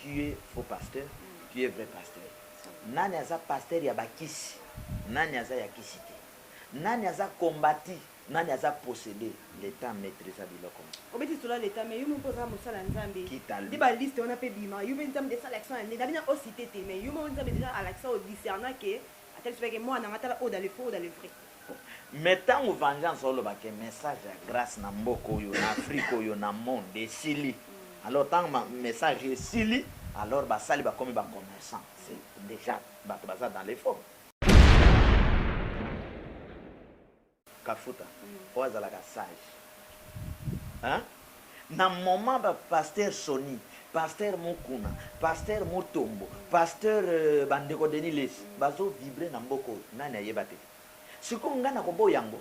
Qui est faux pasteur qui est vrai pasteur nani aza pasteur ya ba kisi nani aza ya kisi te nani aza combati nani aza possede le temps maitrisa biloko nionso. Obeti lisolo ya l'etat mais yo moko oza mosali ya nzambe Qui t'a nde dit? ba liste wana pe ebima yo pe nzambe esala action ya nde na bino o cite te mais yo moko nzambe dejà alakisa o discerna que Atali soki ayeke muana nga tala oyo dans le faux ou dans le vrai. Mais tangu vengeance oloba ke message ya grace na mboka oyo na afrique oyo na monde esili alors tangu message esili alors basali bakomi ba commerçant c'est dejà batu baza dans le faux. Kafuta oyo azalaka sage hein na moment ba pasteur Sony, pasteur Mukuna, pasteur Mutombo, pasteur ba ndeko Denis lessi bazo vibre na mboka oyo nani ayeba te sikoyo nga nako boya yango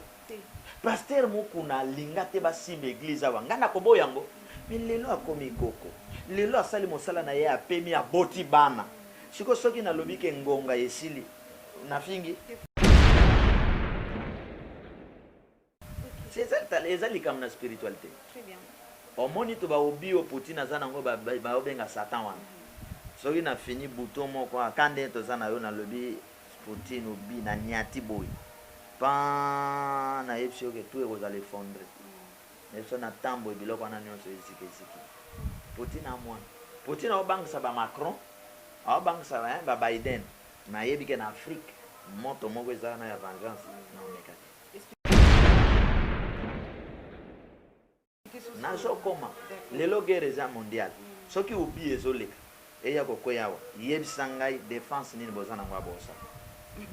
pasteur Mukuna alinga te ba simba eglise awa nga nako boya yango mais lelo akomi koko lelo asali mosala naye apemi aboti bana sikoyo soki nalobi ke ngonga esili nafingi eza likambo na spiritualité omoni to baobi oyo poutine aza nango baobenga satan wana soki na fini buto moko aka nde toza na yo nalobi poutine obi na niati boye pa nayebisi yoke tu ekozala effondre na biso na ntan boye biloko wana nyonso eziki eziki poutine amwana poutine aobangisa bamacron aobangisa babiden ba Na yebi ke na Afrique moto moko eza wana ya vengeance na omeka te. Nazo koma lelo guerre eza mondiale soki oublie ezo leka eya ko kweya awa yebisa ngai defense nini boza nango ya bosa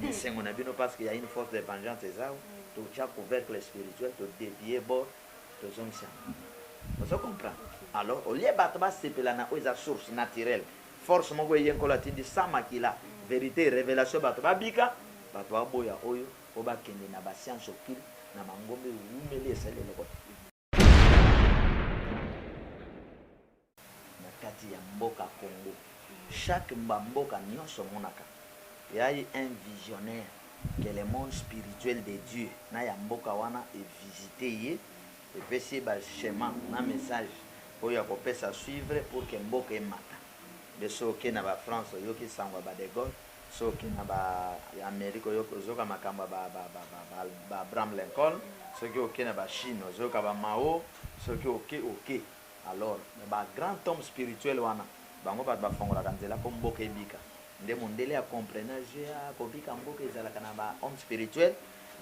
esengo na bino parce que ya une force de vengeance eza awa to tia couvercle spirituel to devier bord to zongisa yango ozo comprendre alors au lieu batu ba sepela na oyo eza source naturelle Force moko eye nkolo atindi sans makila verite revelation bato ba bika bato ba boya oyo po ba kende na ba science occulte na mangomba ewumeli esali eloko te. Na kati ya mboka congo chaque mba mboka nionso omonaka eayi un visionnaire que le monde spirituel de Dieu na ya mboka wana e visite ye, Epesi ye ba schema na message oyo akopesa suivre pour que mboka emata. Nde soki oke na ba France oyoki sango ya ba de Gaulle, soki oke na ba Amerique oyoki ozoyoka makambo ya ba ba ba ba ba ba Abraham Lincoln, soki oke na ba Chine ozoyoka ba Mao, soki oke oke. Alors mais ba grand homme spirituel wana bango bato bafongolaka nzela po mboka ebika. Nde mundele a comprena jeu ya kobika mboka ezalaka na ba homme spirituel.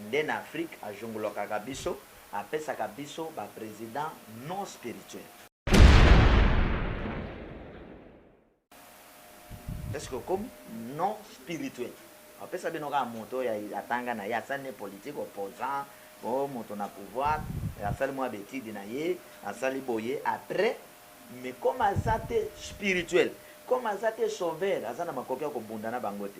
Nde na Afrique ajungulokaka biso. Apesaka biso ba president non spirituel. Est ce que okomi? Non spirituel. Apesa bino kaka moto oyo atanga na ye, asali na ye politique, opposant, oh moto na pouvoir, asali mua ba etudes na ye, asali boye, après, mais comme aza te spirituel, comme aza te sauveur, aza na makoki ya kobunda na bango te.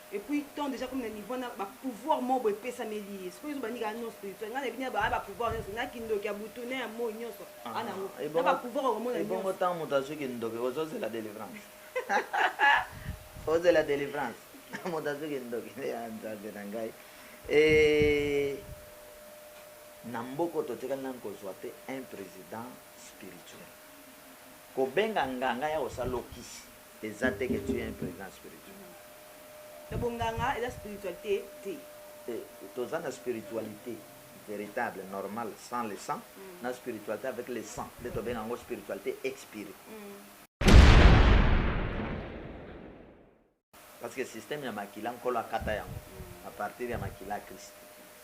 Et puis ton dejà comme na niveau na ba pouvoir moko boye epesameli ye sikoyo ezo banika non spirituel nga na bini ba ba pouvoir nionso na kindoki ya butu na ya moi nionso ana ngo na ba pouvoir okomona nionso ebongo tant moto azui kindoki ozo zela delivrance ozela delivrance moto azui kindoki nde ya nzambe na ngai et na mboko totikali nanu kozwa te un président spirituel kobenga nganga ya kosala lokisi Eza te que tu es un president spirituel. Mais bo nganga eza spiritualite te. Te, toza na spiritualite veritable normale sans le sang na spiritualite avec le sang nde tobenga yango spiritualite expire. Parce que système ya makila nkolo akata yango à partir ya makila ya christ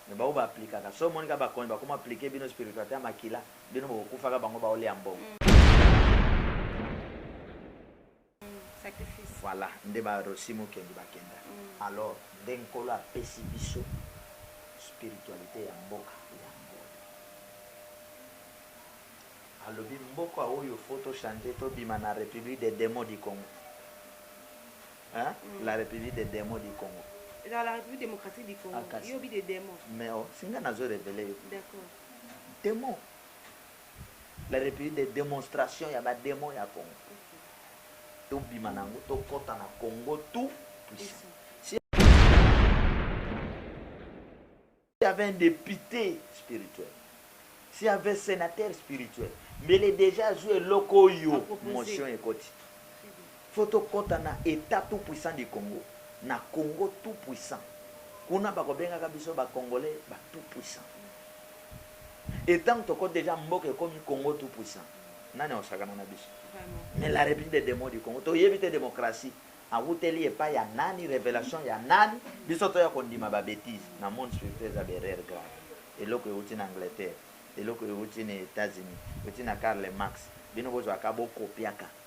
mais ba oyo ba applicaka soki omoni kaka bakonzi bakoma applique bino spiritualite ya makila. Bino bokokufaka bango bao lia mbongo. Voila nde ba Rossy Mukendi ba kenda. Alors nde Nkolo apesi biso spiritualite ya mboka yango oyo. Alobi mboka oyo faut to changer to bima na Republique des demons du Congo. Hein? La Republique des demons du Congo. Ezala la Republique democratique du Congo. Yo obi des demons. Mais oh, si nga nazo reveler yo. D'accord. demon la republique de demonstration ya ba demon ya congo tobima na yango tokɔta na congo tout puissant y avait un député spirituel si y avait sénateur spirituel mbele deja azwi eloko oyo motion ekoti Faut to kota na etat tout puissant du Congo, na Congo tout puissant. Kuna bako bengaka biso ba congolais ba tout puissant. Et tango to koti dejà mboka ekomi Congo tout puissant, nani ako sakana na biso? Mais la Republique des demons du Congo, to yebi te democratie awuteli epai ya nani, revelation ya nani, biso to ya ko ndima ba betises. Na monde spirituel eza ba erreurs graves. Eloko ewuti na Angleterre, eloko ewuti na Etats-Unis, ewuti na Karl Marx, bino bo zwaka bo copiaka.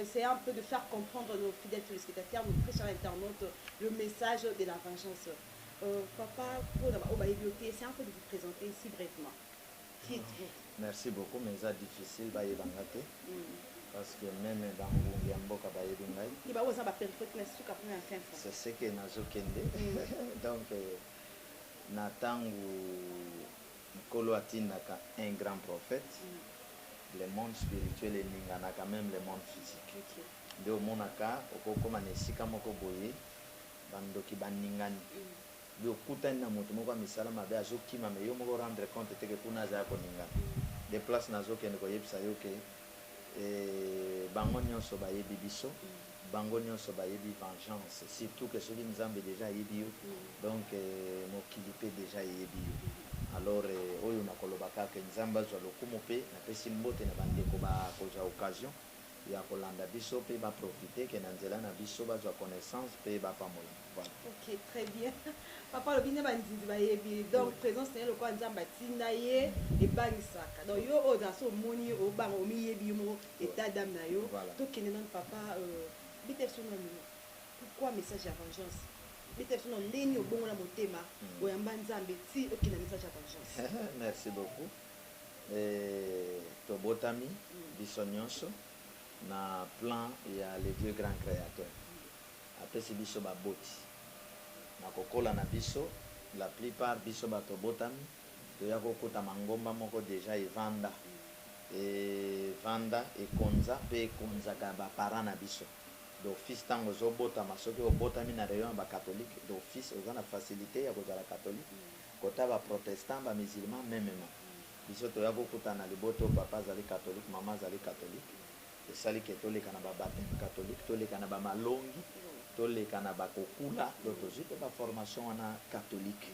Essayez un peu de faire comprendre nos fidèles telespectateurs, nos très chers internautes, le message de la vengeance. Papa, pona ba oyo bayebi yo te, essayez un peu de vous presenter ici brevement. Qui etes-vous? Merci beaucoup mais eza difficile bayeba nga te parce que meme ba ngungi ya mboka bayebi ngai. Ba oyo baza na ba peripheries kuna suka kuna ya fin fond. C'est ce que nazo kende donc na tangu Nkolo atindaka un grand prophète, le monde spirituel eninganaka meme le monde physique nde omonaka oko koma na esika moko boye ba ndoki ba ningani bi okutani na mutu moko ya misala mabe azo kima mais yo moko o rendre compte te que kuna aza yako ningana nde place nazo kende ko yebisa yo que bango nionso ba yebi biso. Bango nionso bayebi vengeance surtout que soki nzambe dejà ayebi yo donc mokili pe dejà eyebi yo alors oyo nakoloba kaka que nzambe azua lokumu pe napesi mbote na ba ndeko ba kozua occasion ya kolanda biso pe ba profiter que na nzela na biso bazua connaissance pe ba pamolama voilà. Ok très bien papa alobi nde ba nzinzi bayebi donc presence naye lokola nzambe atinda ye ebangisaka donc yo oyo ozala soki omoni ye obanga omiyebi yo moko Etat d'ame na yo to kende nanu papa euh beta biso nanu pourquoi message ya vengeance beta biso nanu ndenge nini obongola motema oyamba nzambe tii okende na message ya vengeance. Merci beaucoup euh tobotami biso nionso na plan ya le Dieu grand createur apesi biso ba boti na kokola na biso la plus part biso batu tobotami Toya ko kota mangomba moko dejà evanda evanda ekonza pe ekonzaka ba parents na biso d'office tango ozo botama soki obotami na rayon ya ba catholique d'office oza na facilite ya kozala catholique kota ba protestant ba musulman memement biso toya ko kutana na libota oyo papa azali catholique maman azali catholique esali ke toleka na ba bapteme catholique toleka na ba malongi toleka na ba kokula donc tozui pe ba formation wana catholique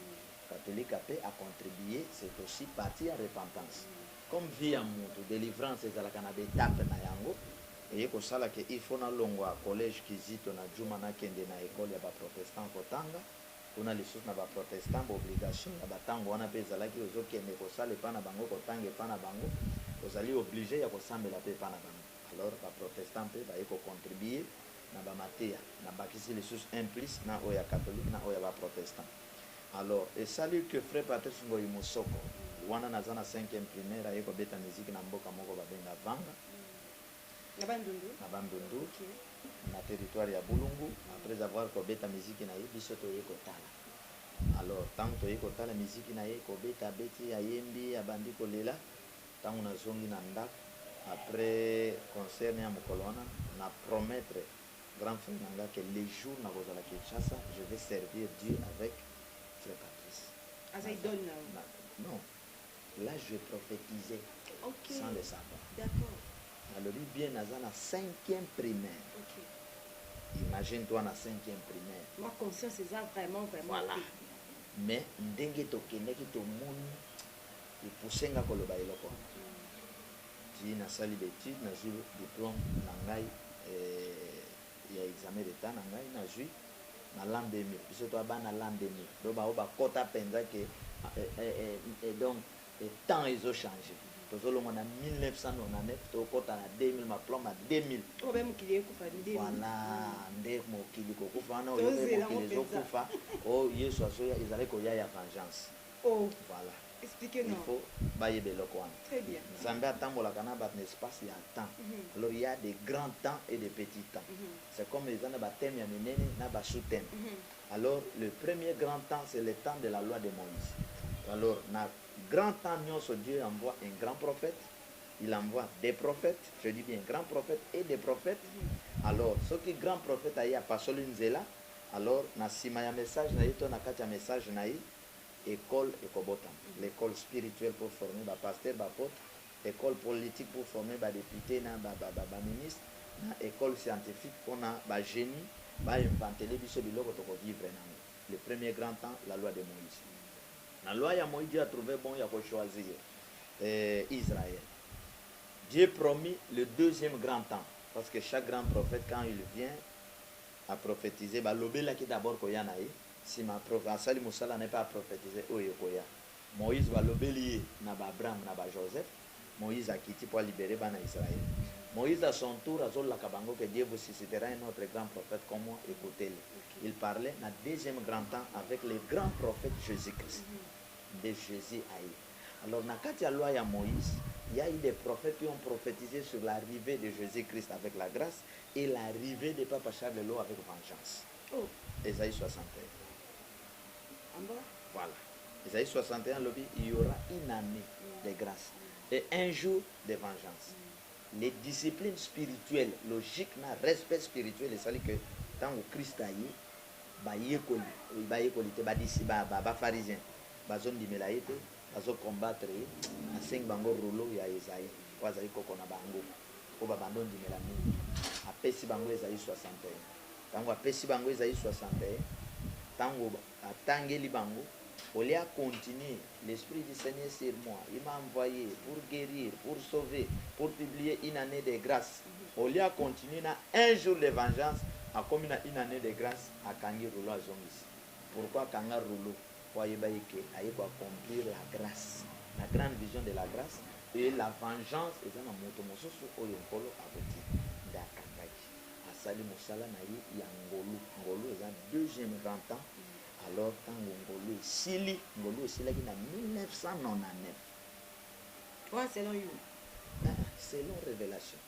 Katolika pe a contribue c'est aussi partie ya repentance. Comme vie ya mutu delivrance ezalaka na b'etapes na yango, eye kosala ke il faut nalongwa college Kizito na Djuma nakende na ecole ya ba protestants kotanga, kuna lisusu na ba protestants b'obligation ya ba tango wana pe ezalaki ozo kende kosala epa na bango kotanga epa na bango ozali oblige ya kosambela pe epa na bango alors ba protestants pe baye ko contribue na ba mateya, nabakisi lisusu un plus na oyo ya catholique na oyo ya ba protestants. Alors esali que Frère Patrice Ngoyi Mosoko, wana naza na cinquième primaire, aye kobeta musique na mboka moko babenga Vanga, Na Bandundu? na Bandundu, Ok. na territoire ya Bulungu. Après avoir kobeta musique na ye, biso toye kotala. Alors tango toye kotala musique na ye, kobeta abeti, ayembi, abandi kolela, tango nazongi na ndako après concert na ye ya mokolo wana, na promettre. grand frère na nga que le jour na kozala Kinshasa je vais servir Dieu avec frère Patrice aza idole na yo non là je prophetise okay. sans le savoir d'accord nalobi bien naza na cinquième primaire okay. imagine toi na cinquième primaire ma conscience eza vraiment vraiment voilà mais ndenge tokendaki tomoni epuse nga koloba eloko wana Ti na sali ba etudes na zui diplome na ngai eh Ya examen d'etat na ngai na zui na l'an 2000 biso toa bana l'an 2000 donc bango ba kota penza que eh eh donc temps ezo change tozo longwa na 1999 to kota na 2000 ma plan ma 2000 voila nde mokili ko kufa wana oyo pe mokili ezo kufa oh yesu azo ya ezali ko ya ya vengeance. Voilà il faut bayeba eloko wana nzambe atambolaka na batu na espace ya temps alors il ya de grand temps et de petit temps c'est comme eza na ba thème ya minene na ba sous thème alors le premier grand temps c'est le temps de la loi de moise alors na grand temps nionso Dieu envoie un grand prophète il envoie des prophètes je dis bien grand prophète et des prophètes alors soki grand prophète aye apasoli nzela alors na sima ya message na ye to na kati ya message na ye Ecole ekobotama, l'ecole spirituelle pour former ba pasteurs, ba apotres, ecole politique pour former ba deputes na ba ministres, na ecole scientifique pona ba genies ba inventele biso biloko toko vivre na yango. Le premier grand temps, la loi de Moïse. Na loi ya Moïse, Dieu a trouve bon ya ko choisir Israël. Dieu promis le deuxième grand temps, parce que chaque grand prophète quand il vient a prophetise, ba lobelaki d'abord koya na ye, Sima proph asali mosala naye pe a prophetise oyo ekoya. Moïse ba lobeli ye na ba Abraham na ba Joseph. Moïse akiti po a liberer bana Israël. Moïse à son tour azo laka bango que Dieu vous suscitera un autre grand prophète comme moi ecoutez le. Il parlait na deuxième grand temps avec le grand prophète Jesus Christ. Nde Jesus aye. Alors na kati ya loi ya Moïse il ya eu des prophètes qui ont prophetise sur l'arrivee de Jesus Christ avec la grace et l'arrivee de Papa Charles Lowe avec vengeance. Oh ezali 61 bon voila ezali 61 lobi il y'aura une annee de grace et un jour de vengeance les disciplines spirituelles logique na respect spirituel esali que tango christ aye ba yekoli oyo ba yekoli te ba disi ba ba ba pharisiens bazo ndimela ye te bazo combattre ye asengi bango rouleau ya Esaïe oyo azali koko na bango oyo ba banda ondimela mingi apesi bango ezali 61. Tango apesi bango Ezayi 61, tango atangeli bango, au lieu a continuer, l'esprit du Seigneur sur moi, il m'a envoye pour guerir, pour sauver, pour publier une annee de grace, au lieu a continuer na un jour de vengeance, akomi na une annee de grace, akangi rouleau azongisi. Pourquoi akanga rouleau? Po ayeba ye que aye ko accomplir la grace. La grande vision de la grace est la vengeance eza na moto mosusu oyo Nkolo akotinda. Nde akangaki. asali mosala na ye ya ngolu ngolu eza deuxième grand temps alors tango ngolu esili ngolu esilaki na 1999 oyo selon you selon revelation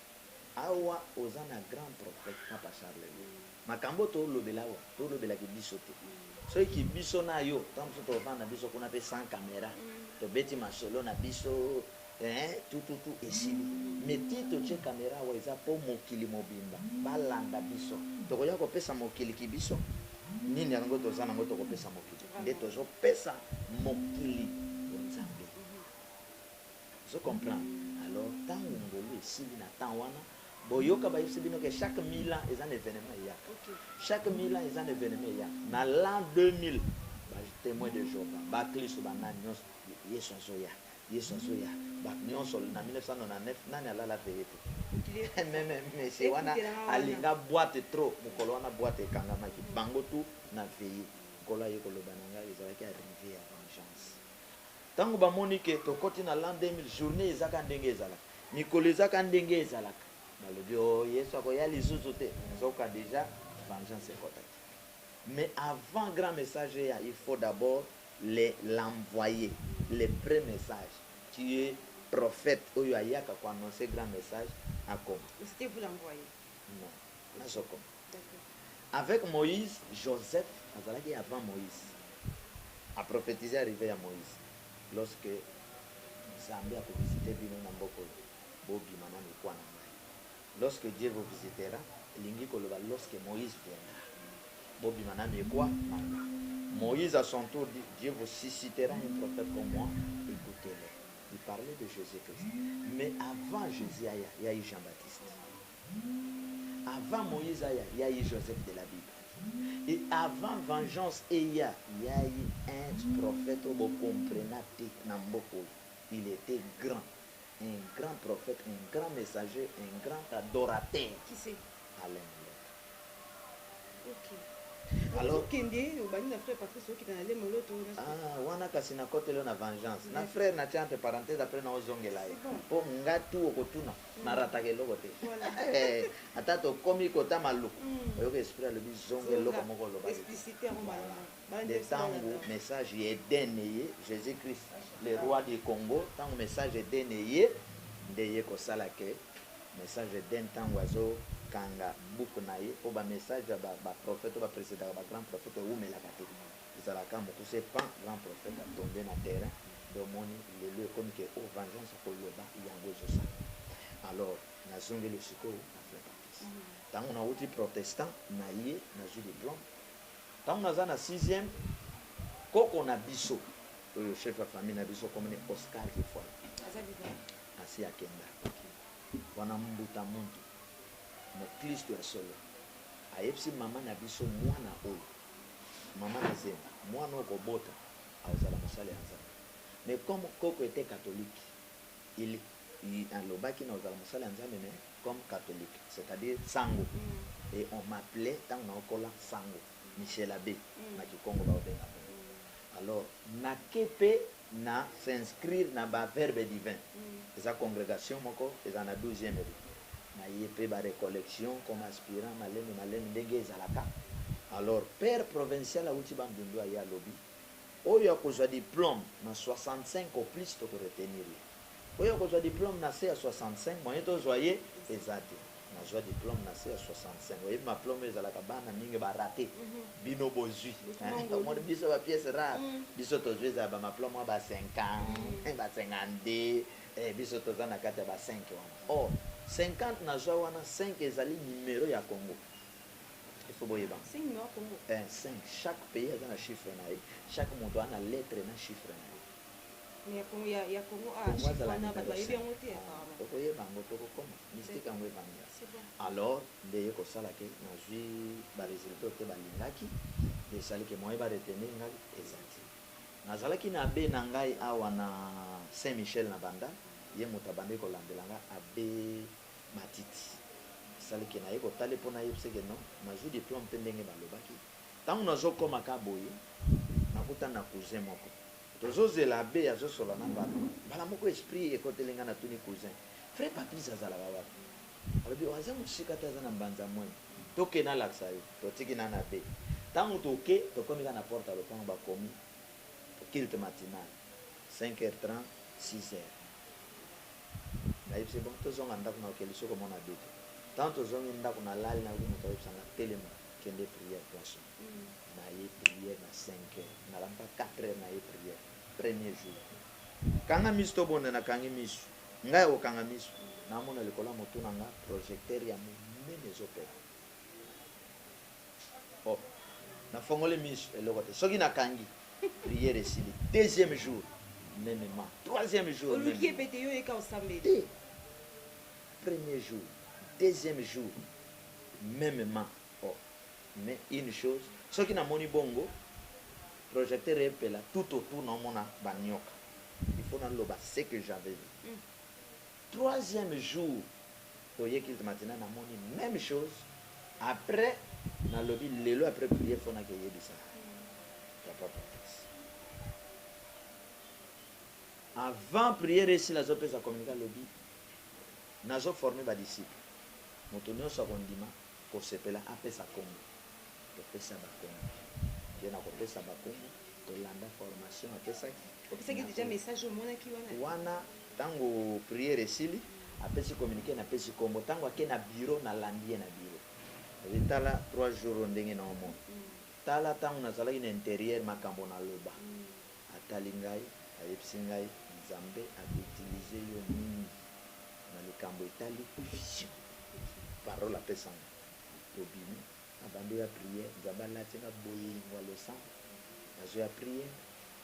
awa oza na grand prophète papa charles mm. makambo tolobela awa tolobelaki biso te mm. soki biso na yo ntango mosusu tovanda biso kuna mpe sans caméra mm. tobeti masolo na biso Eeh tututu esili mais tii totie camera awa eza po mokili mobimba balanda biso tokoya kopesa mokili kibiso nini yango toza nango tokopesa mokili nde tozo pesa mokili po nzambe ozo comprendre alors tangu ngolu esili na temps wana boyoka bayebisi bino ke chaque 1000 ans eza na evenement eyaka chaque 1000 ans eza na evenement eyaka na l'an 2000 ba temoin de jehova ba klisto ba nani nionso yesu azoya Yesu azoya batu nionso na 1999 nani alala veye te meme monsieur wana alinga boite trop mukolo wana boite ekangamaki bango tout na veye nkolo aye koloba na ngai ezalaki arrive ya vengeance tango bamoni ke tokoti na l'an 2000 journee eza ka ndenge ezalaka mikolo eza ka ndenge ezalaka balobi o oh, yesu akoya lizuzu te nzoka deja vengeance ekotaki mais avant grand message eya il faut d'abord le l'envoye le pre message tu es prophete oyo ayaka ko annonce grand message akoma C'etait vous l'envoye? Non nazo koma Avec Moïse, Joseph azalaki avant Moïse a prophetise arrive ya Moïse lorsque Nzambe ako visite bino na mboka oyo bobima na mikwa na ngai. Lorsque Dieu vous visitera elingi koloba lorsque Moïse viendra bobima n'a mikuwa nanga Moïse à son tour dit Dieu vous suscitera un prophète comme moi ecoutez le il parlait de Jesus Christ mais avant Jesus aya il y'a eu Jean Baptiste avant Moïse aya il y'a eu Joseph de la Bible et avant vengeance eya il y'a eu un prophète oyo bo comprena te n'a mboka oyo il etait grand un grand prophète un grand messager un grand adorateur qui c'est Alain okay. Alors kende obandi na frère Patrice okita na lemo loto ah wana kasi na kote leo na vengeance na frère na tia entre parenthèse après na ozongela ye po nga tout okotuna mm. na rataka eloko te eh, ata tokomi kota maluku mm. oyoka esprit alobi zonga eloko moko oloba explicité yango malamu nde tangu message ya Eden eye Jesus Christ le roi du Congo tangu message ya Eden eye nde eye kosala que message ya Eden tangu azo kanga buku naye po ba message ya ba prophete oyo ba precedaka ba grand prophete ewumelaka te ezalaka kaka mukuse pan grand prophete a tombe na terrain nde omoni lelo ekomi que oh vengeance oko loba yango ezo sala alors na zongeli sikoyo na flepatis tangu nawuti protestant naye nazui diplome Tango naza na sixième koko na biso oyo chef ya famille na biso kombo ne Oscar Kifuani asi akenda wana mbuta muntu moklisto ya solo ayebisi mama na biso mwana oyo mama na zemba mwana oyo kobota akozala mosali ya Nzambe mais comme koko ete catholique il Ye alobaki na kozala mosali ya Nzambe mais comme catholique c'est à dire sango et on m'appelait tango nao kola sango Michel Abbe na kikongo bao benga bongo alors na ke pe na s'inscrire na ba Verbe divin eza congregation moko ezala na douzieme rue na ye pe ba recollections comme aspirant malembe malembe ndenge ezalaka alors père provincial awuti Bandundu aye alobi Oyo akozwa diplome na 65 au plus toko retenir ye. Oyo akozwa diplome na se ya 65 moyen tozwa ye eza te. Nazwa diplome na se ya 65. Oyebi maplome oyo ezalaka bana mingi ba rate. Bino bozwi. Omoni biso ba piece rare. Biso tozwi eza ya ba maplome ya ba 50, ba 52. Ee biso toza na kati ya ba 5 wana. Or 50 nazwa wana, 5 ezali numero ya Congo. il faut boyeba eh, cinq chaque pays aza na chiffre na ye chaque moto aza na lettre na chiffre na ye kongo azala okoyeba yango tokokoma mystique yango ebanda alors nde ye kosala ke nazwi baresultat te balingaki nde esali ke moye baretenir ngai eza te nazalaki na abe na ngai awa na saint michel na banda ye moto abandaki kolandela ngai abe Matiti asali ke naye kotale po nayebise ke non nazui diplome pe ndenge balobaki tango nazo koma ka boye nakutani na cousin moko tozo zela abbe azo solola na papa mbala moko esprit ekoteli nga natuni cousin frère Patrice azalaka wapi alobi oh aza mosika te aza na mbanza mwenyi toke nalakisa yo totiki nanu abbe tango toke tokomi ka na porte ya lopango bakomi culte matinal cinq heures trente six heures Nayebisa ye bon tozonga ndaku nako kende soki omona Abeti. Tango tozongi ndaku nalali nayoki mutu ayebisa nga telema kende priere place oyo. Naye priere na cinq heures nalamuka quatre heures naye priere premier jour. Kanga misu tobunda nakangi misu nga ya kokanga misu namona likolo ya mutu na nga projecteur ya munene ezo pela. Oh na fongoli misu eloko te soki na kangi prière esili deuxième jour meme ma troisième jour oluki ye pe te yo yeka osambeli te premier jour deuxième jour meme ma oh mais une chose soki na moni bongo projecteur epela tout au tout na omona ba nioka il faut na loba ce que j'avais vu. Troisième jour toye culte matinal na moni meme chose après na lobi lelo après prière faut na ke yebisa papa Patrice avant prière esila azo pesa communique alobi nazo former ba disciples moto nionso ako ndima ko sepela apesa kombo Topesa ba kombo. Ye na kopesa ba kombo, tolanda formation apesaki. Opesaki dejà message omonaki wana? Wana tango prière esili, apesi communique napesi kombo. Tango ake na bureau, nalandi ye na bureau. Nalobi ye tala trois jours oyo ndenge nao mona. Tala tango nazalaki na interieur makambo naloba. Atali ngai, ayebisi ngai Nzambe ako utiliser yo mingi na likambo etali vision. Parole apesa nga. Tobimi na banda oya prière nzambe alati nga bolingo ya losambo nazo ya prière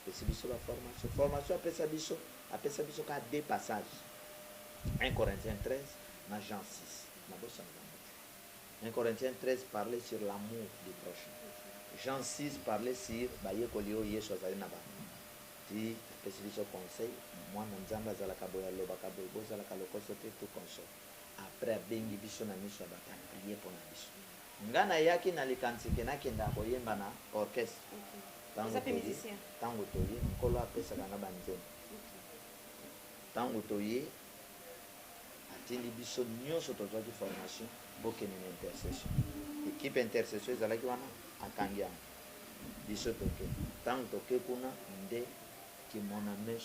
apesi biso ba formation formation apesa biso apesa biso kaka deux passage 1 corinthiens 13 na jean 6 nabosanaka yango te 1 corinthiens 13 parle sur l'amour du prochain jean 6 parle sur bayekoli oyo yesu azali na bango ti apesi biso conseil mwana nzambe azalaka boye alobaka boye bozalaka lokoso te tout consort après abengi biso na misu ya batu a prier pona biso nga na yaki na likanisi ke na kendaka ko yemba na orchestre tangu toye tangu toye nkolo a pesaka nga ba nzembo tangu toye a tindi biso nioso to zwaki formation bo kende na intercession equipe ya intercession ezalaki wana a kangi yango biso to ke tangu to ke kuna nde ki mon ames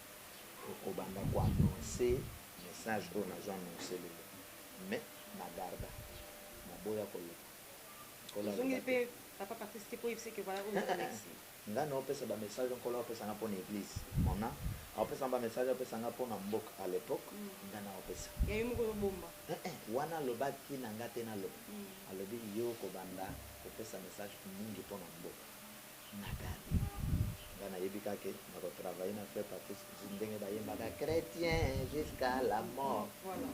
Okobanda ko annonce message oyo nazo annonce lelo mais na garda naboya koloba nkolo aloba te nga nao pesa ba message nkolo ao pesa nga pona eglise mon a ao pesa nga ba message ao pesa nga pona mboka a l'epoque nga nao pesa wana alobaki na nga te naloba alobi yo okobanda kopesa message mingi pona mboka Nathalie nga nayebi ka ke nako travailler na frère Patrice Kizz ndenge bayembaka chretien jusqu'à la mort. Voilà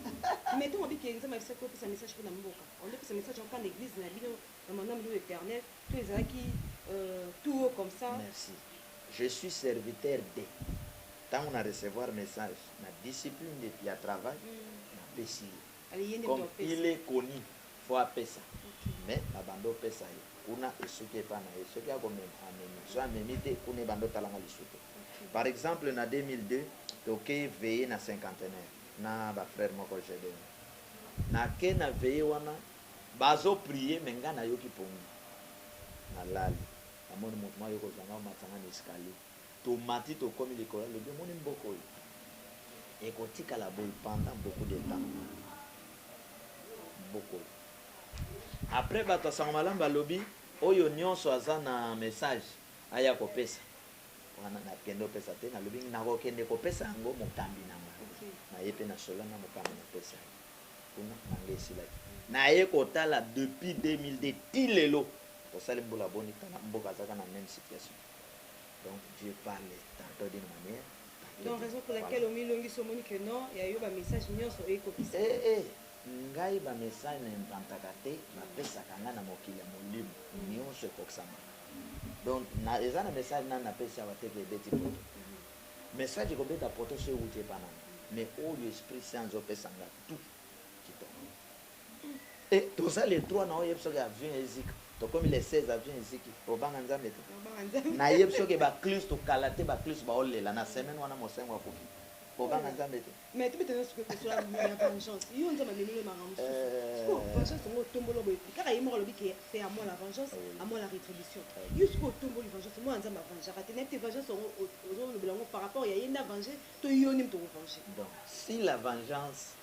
mais tango olobi ke nzambe abisaki opesa message pona mboka au lieu opesa message yango epa na eglise na bino na maman milio eternel to ezalaki tout haut comme ça. Merci je suis serviteur de tango na recevoir message na discipline ya travail na pesi ye. comme il est connu faut apesa mais babanda opesa ye kuna esuki epa na ye soki ako mema amemi soki amemi te kuna ebanda otala nga lisutu par exemple na 2002 toke veille na cinquantenaire na ba frère moko Gedeon na ke na veille wana bazo prier mais nga nayoki pongi na lali na moni mutu moko aye kozua nga omati nga na escalier Tomati tokomi likolo ya lobi omoni mboka oyo ekotikala boye pendant beaucoup de temps mboka oyo après batu ya sango malamu balobi oyo nionso aza na message aya kopesa wana na kende opesa te nalobi nakokende kopesa yango mokambi na nga naye pe na solo na mokambi na pesa ye kuna na nga esilaki naye kotala depuis 2002 ti lelo osali mbula boni tala mboka azaka na meme situation Donc Dieu parle tantot d'une manière tantot d'une autre. Donc raison pour laquelle omi longisi omoni que non ya yo ba messages nionso oye kokisa. Eh eh ngai ba messages na inventaka te ba pesaka ngai na mokili ya molimo nionso ekokisamaka. Donc na eza na message nanu na pesi awa te que ebeti poto. Message ekobeta poto soki ewuti epa nani mais oyo esprit saint azo pesa nga tout kitoko. Eh toza le 3 nao yebi soki avion ezika tokomi le 16 avion eziki obanga nzambe te? Na yebi soki ba klisto kala te ba klisto bao lela na semaine wana mosengo akufi obanga nzambe te? Donc si la vengeance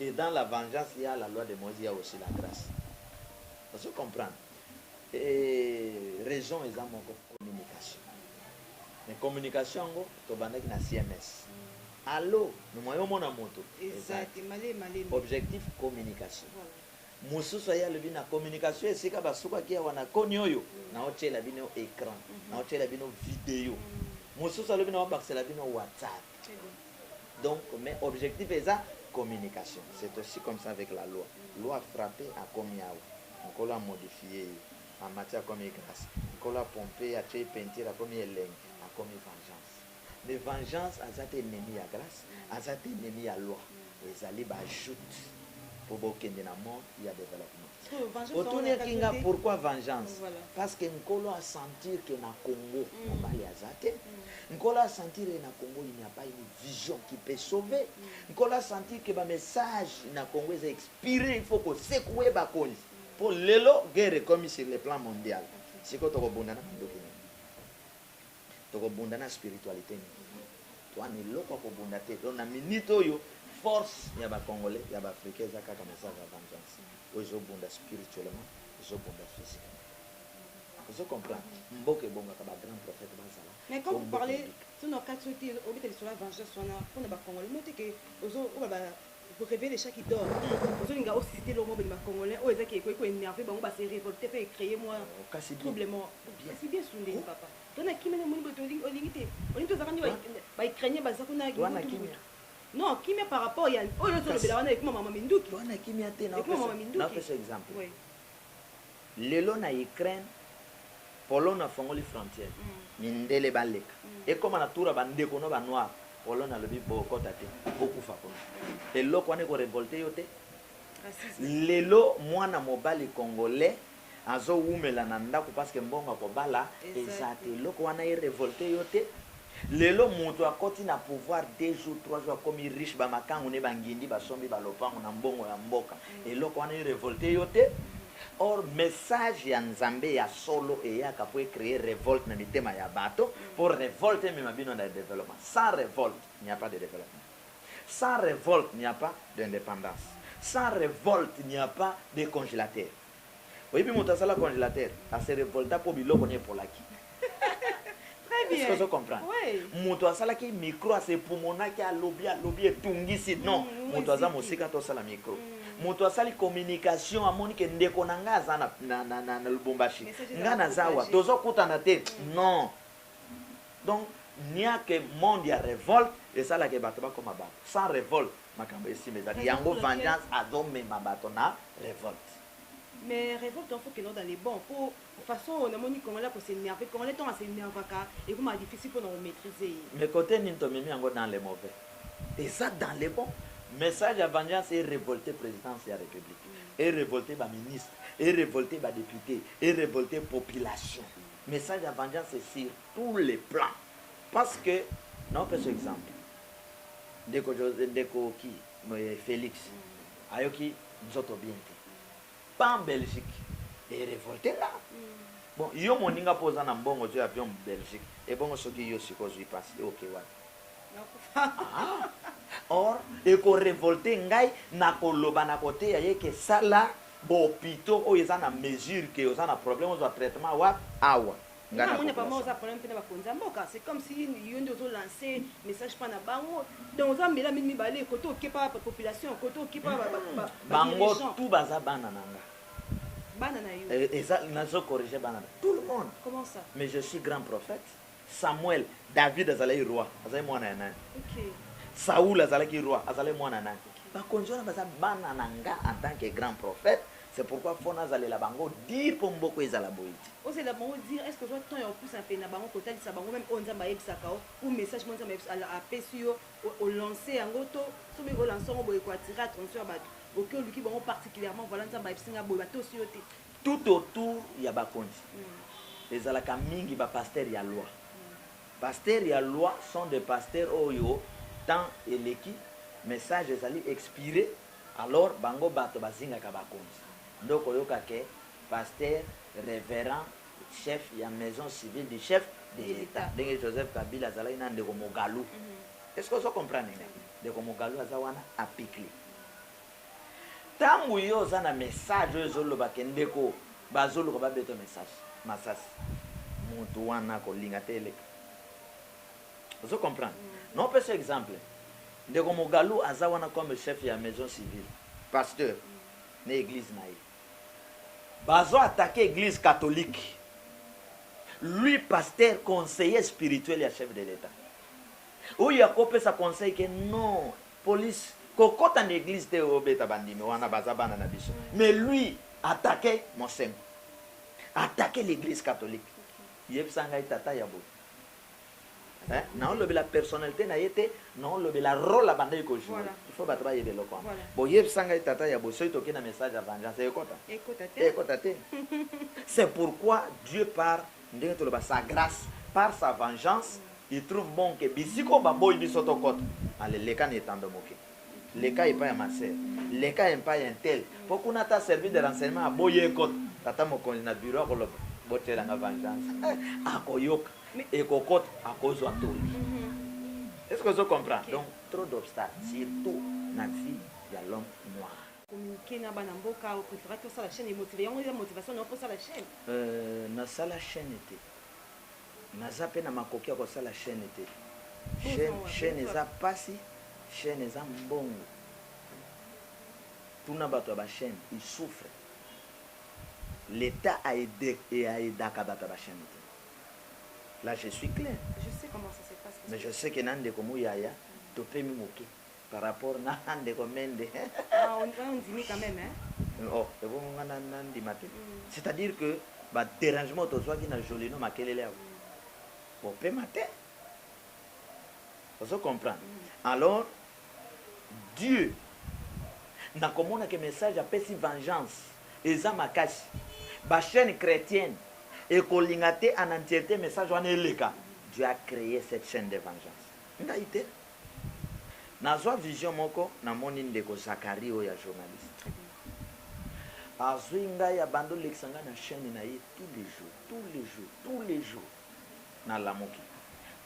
Et dans la vengeance il ya la loi de Moise il ya aussi la grace ozo comprendre eeh raison eza moko communication mais communication yango tobandaki na CMS allo mais moyen omona moto eza te objectif communication mosusu aye alobi na communication esika basukaki awa na koni oyo naotyela bino ecran naotyela bino video mosusu alobi naobakisela bino whatsapp Donc mais objectif eza communication c'est aussi comme ça avec la loi loi a frappe akomi awa nkolo a modifier ye amati akomi grace nkolo a pompe atie ye peinture akomi elengi akomi vengeance mais vengeance aza te ennemi ya grace aza te ennemi ya loi ezali ba joute po bokende na mode ya developpement. Otunirki nga pourquoi vengeance? Parce que Nkolo a sentir que na Congo mobali aza te. Nkolo a sentir que na Congo il n'y a pas une vision qui peut sauver. Nkolo a sentir que ba messages na Congo eza expire, il faut ko secouer bakonzi. Po lelo guerre ekomi sur le plan mondial. Sikoyo toko bunda na ba ndoki nini? Toko bunda na spiritualite nini? Toa na eloko ya kobunda te donc na minute oyo force ya ba congolais ya ba africains eza kaka message ya vengeance oyo ezo bunda spirituellement ezo bunda physiquement ozo comprendre mboka ebongaka ba grand prophète bazala Mais quand po vous mboka parlez, ebika. soki na okati soki obeta lisolo ya vengeance wana pona ba congolais omoni te que ozo oba ba Vous revez de chaque idole ozo linga o suscite eloko moko boni ba congolais oyo eza ke ekoki ko enerver bango ba se revolter pe e creer mua trouble moko kasi bien sundeli papa to na kimia nde omoni boye to olingi te olingi to zalaka nde ba ukrainiens baza kuna mutu mutu non kimia par rapport ya oyo ozo lobela wana ekoma mama minduki ekoma mama minduki oui. Lelo na Ukraine, Pologne afongoli frontière, mindele baleka. Ekoma na tour ya ba ndeko no ba noir, Pologne alobi bokota te, bokufa kuna. Eloko wana eko revolter yo te? Lelo mwana mobali congolais azo wumela na ndaku parce que mbongo ya kobala eza te. Eloko wana e revolter yo te? Lelo mutu akoti na pouvoir deux jours trois jours akomi riche ba makangu ne ba ngindi basombi ba lopangu na mbongo ya mboka eloko wana e revolte yo te? Or message ya Nzambe ya solo eyaka po e creer revolte na mitema ya bato po revolte emema bino na developpement sans revolte il n'y a pas de developpement sans revolte il n'y a pas d'independance sans revolte il n'y a pas de congelateur. Oyebi moto asala congelateur? A se revolta po biloko naye epolaki. Est ce que ozo comprendre? Moto asalaki micro a se pumonaki alobi alobi etungisi non moto aza mosika to sala micro. Moto asali communication amoni ke ndeko na nga aza na Lubumbashi nga naza awa tozo kutana te non donc niake monde ya revolte esala ke bato bakoma bato sans revolte Makambo esima ezali yango vengeance azo mema bato na revolte. Mais revolte wana faut que dans les bons po façon oyo namoni congolais ako s'enerver congolais tango a s'enervaka ekomaka difficile pona ko maitriser ye. Mais cote nini tomemi yango dans les mauvais eza dans les bons message ya vengeance e revolter presidence ya republique e revolter ba ministre e revolter ba depute e revolter population message ya vengeance sur tous les plans parce que na opesa exemple Ndeko Jose ndeko ki moye Felix ayoki nzoto bien te pa en Belgique e revolte nga bon yo moninga po oza na mbongo ozui avion Belgique ebongo soki yo sikoyo ozui pasi yo oke wapi ah or eko revolte ngai na koloba na koteya ye ke sala ba hopitaux oyo eza na mesure ke oza na problème ozua traitement wapi awa nga na moni vraiment oza problème pe na bakonzi ya mboka c'est comme si yo nde ozo lancer message pa na bango donc oza mbela mini mibale kote okepa ba population kote okepa hmm. bango tout baza bana na nga bana na yo eh, eza nazo corriger bana na tout le monde comment ça mais je suis grand prophète samuel david azalaki roi azalaki mwana ya nani okay. saul azalaki roi azalaki mwana ya nani okay. bakonzi wana baza bana na nga en tant que grand prophète C'est pourquoi faut nazalela bango dur po mboka ezala boye te. Ozela bango dur est-ce que ozua temps ya kopusana pene na bango kotalisa bango meme oyo Nzambe ayebisaka yo ou message moko Nzambe apesi yo o lancer yango to soki o lancer yango boye eko attirer attention ya batu oke oluki bango particulièrement voilà Nzambe ayebisi nga boye batosi yo te. Tout autour ya bakonzi ezalaka mingi ba pasteurs ya loi. Pasteurs ya loi sont des pasteurs oyo temps eleki message ezali expirer Alors bango bato bazingaka bakonzi nde okoyoka que pasteur, reverend, chef ya maison civile du chef de l'etat ndenge Joseph Kabila azalaki na ndeko Mogalu est ce que ozo comprendre nga? Ndeko Mogalu aza wana apikli tangu yo oza na message oyo ezo loba que ndeko bazo luka ba beta yo message masasi mutu wana ako linga te eleka. ozo comprendre na opesa exemple ndeko mogalu aza wana comme chef ya maison civile pasteur na eglise na ye bazo attaque eglise catholique lui pasteur conseiller spirituel ya chef de l'etat oyo akopesa conseil ke non police kokota na eglise te obeta bandimi wana baza bana na biso mais lui attaque mosengo attaque l'église catholique yebisa ngai tata ya boye Eh, naolobela personnalité na ye te naolobela role abandaki ko jouer voilà. il faut bato bayeba eloko wana voilà. boyebisa ngai tata ya bosoki toki na message ya vengeance ekota ekota te c'est pourquoi dieu par ndenge toloba sa grâce par sa vengeance il trouve bon que bisika oyo baboyi biso tokota ale leka na etando moke Leka epai ya ma sœur. Leka epai ya untel po kuna ata service de renseignement aboyi ekota. Tata mokonzi na bureau akoloba botiela nga vengeance eh akoyoka ekokota akozua toli. Est ce que ozo comprendre? Donc trop d'obstacles surtout na vie ya l'homme noir. Communiquer na bana mboka o prefera ata osala chaine emotive yango eza motivation na yo po osala chaine? Euh na sala chaine te. Naza pe na makoki ya kosala chaine te chaine chaine eza pasi chaine eza mbongo tuna batu ya ba chaine il souffre l'etat a aidaka batu ya ba chaine te la je suis claire mais je sais que na ndeko muyaya topemi moke. Par rapport na ndeko Mende. Ah on on ondimi quand meme hein. Oh ebongo nga na na ndima te c'est à dire que ba derangement tozwaki na Jolino Makelele awa bo pema te ozo comprendre alors Dieu na komona ke message apesi vengeance eza makasi ba chaine chretienne ekolinga te en entierte message wana eleka Dieu a cree cette chaine de vengeance ngai te. Nazwa vision moko namoni ndeko Zacharie oyo ya journaliste azui ngai abandi olekisa ngai na chaine na ye tout le jour tout le jour tout le jour nalamuki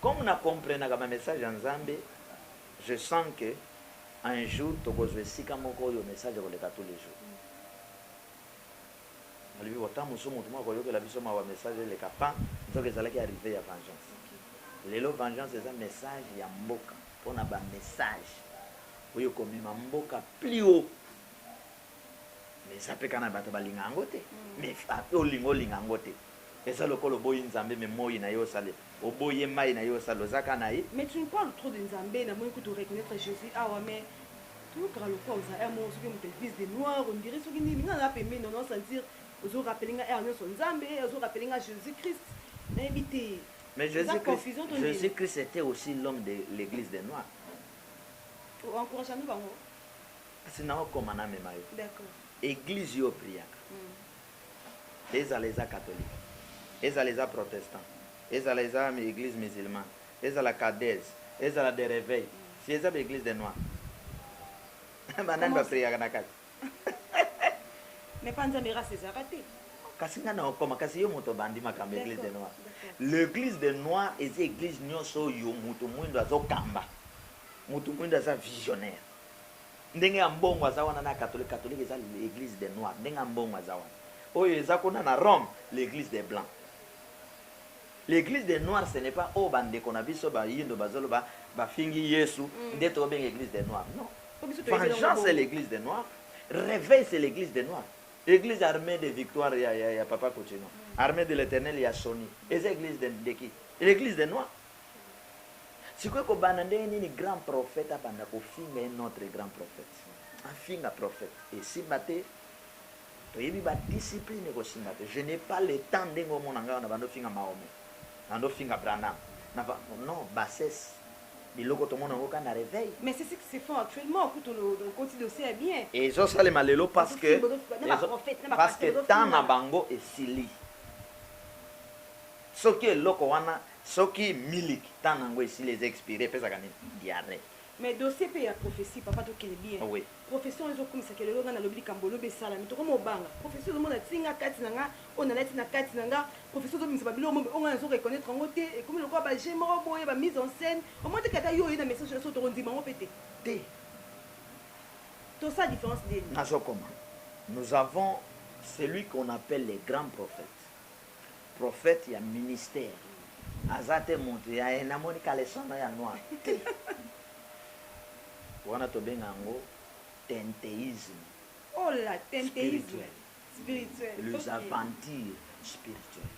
comme na comprenaka ba message ya nzambe je sens que un jour tokozwa esika moko oyo message ekoleka tout le jour. Nalobi bon temps mosusu mutu moko ako yokela biso mawa message eleka pah nzoka ezalaki arrive ya vengeance lelo vengeance eza message ya mboka pona ba message oyo eko mema mboka plus haut mais eza pe kaka na batu balinga yango te mais olinga olinga yango te. Eza lokola oboyi nzambe mais moyi naye osali oboyi ye mayi naye osali oza ka naye. Mais tu nous parle trop de nzambe na moni kutu reconnaitre Jesus awa mais toyokaka lokola ozala heure moko soki mutu evise de noir on dirait soki nini nga naza pembeni na yo nazo sentir ozo rappeler nga heure nionso nzambe ozo rappeler nga Jesus Christ nayebi te Mais Jesus eza Christ confusion to nini. Jesus Christ etait aussi l'homme de l'eglise de noir. O encouragea nde bango? Kasi nao koma na mema yo. D'accord. Eglise yo o priaka. Ezala eza catholique, ezala eza protestant, ezala eza eglise musulman, ezala cadets, ezala de reveil, si eza ba eglise de noir ba nani ba priaka na kati? Mais pa nzambe race ezalaka te. Kasi nga na okoma kasi yo moto obandi makambo eglise de noir le eglise de noir eza eglise nionso oyo moto muindu azo kamba moto muindu aza visionnaire Ndenge Ambongo aza wana n'a catholique, catholique eza eglise des noirs, ndenge Ambongo aza wana, oyo eza kuna n'a Rome l'eglise des blancs. L'eglise des noirs ce n'est pas oyo ba ndeko n'a biso ba yindo bazo loba ba fingi yesu nde to benga eglise des noirs non. Vengeance c'est l'eglise des noirs, reveil c'est l'eglise des noirs, eglise armee de victoire ya papa kutshino, armee de l'eternel ya soni eza eglise de qui? L'eglise des noirs. Sikoyo ekobanda ndenge nini grand prophète abanda kofinga un autre grand prophète? Afinga prophète esimba te, toyebi ba discipline ekosimba te. Je n'ai pas le temps ndenge omona ngai awa nabandi ofinga Mahomet, nabandi ofinga Branham, non bassesse biloko tomona yango kaka na reveil. Mais c'est ce qui se font actuellement kutu okoti dossier ya bien. Ezosalema lelo parce que parce que temps na bango esili. Soki eloko wana Soki milik temps nango esili eza expire epesaka nini diarrhee. Mais dossier pe ya prophetie papa to kende bien Oui. prophetie wana ezo kumisa ke lelo nga na lobi likambo olobi esalami toko mo banga prophetie ozo mona ti nga kati na nga oyo na lati na kati na nga prophetie ozo bimisa ba biloko moko oyo nga nazo reconnaitre yango te ekomi lokola ba jeux moko boye ba mise en scène omoni te ke ata yo oye na message na biso toko ndima yango pe te Te. To sala difference ndeni? Nazo koma nous avons celui qu'on appelle le grand prophète. Prophète ya ministère aza te mutu ya eh namoni caleçon no ya noir te wana tobenga yango tenteisme spirituel les aventures spirituel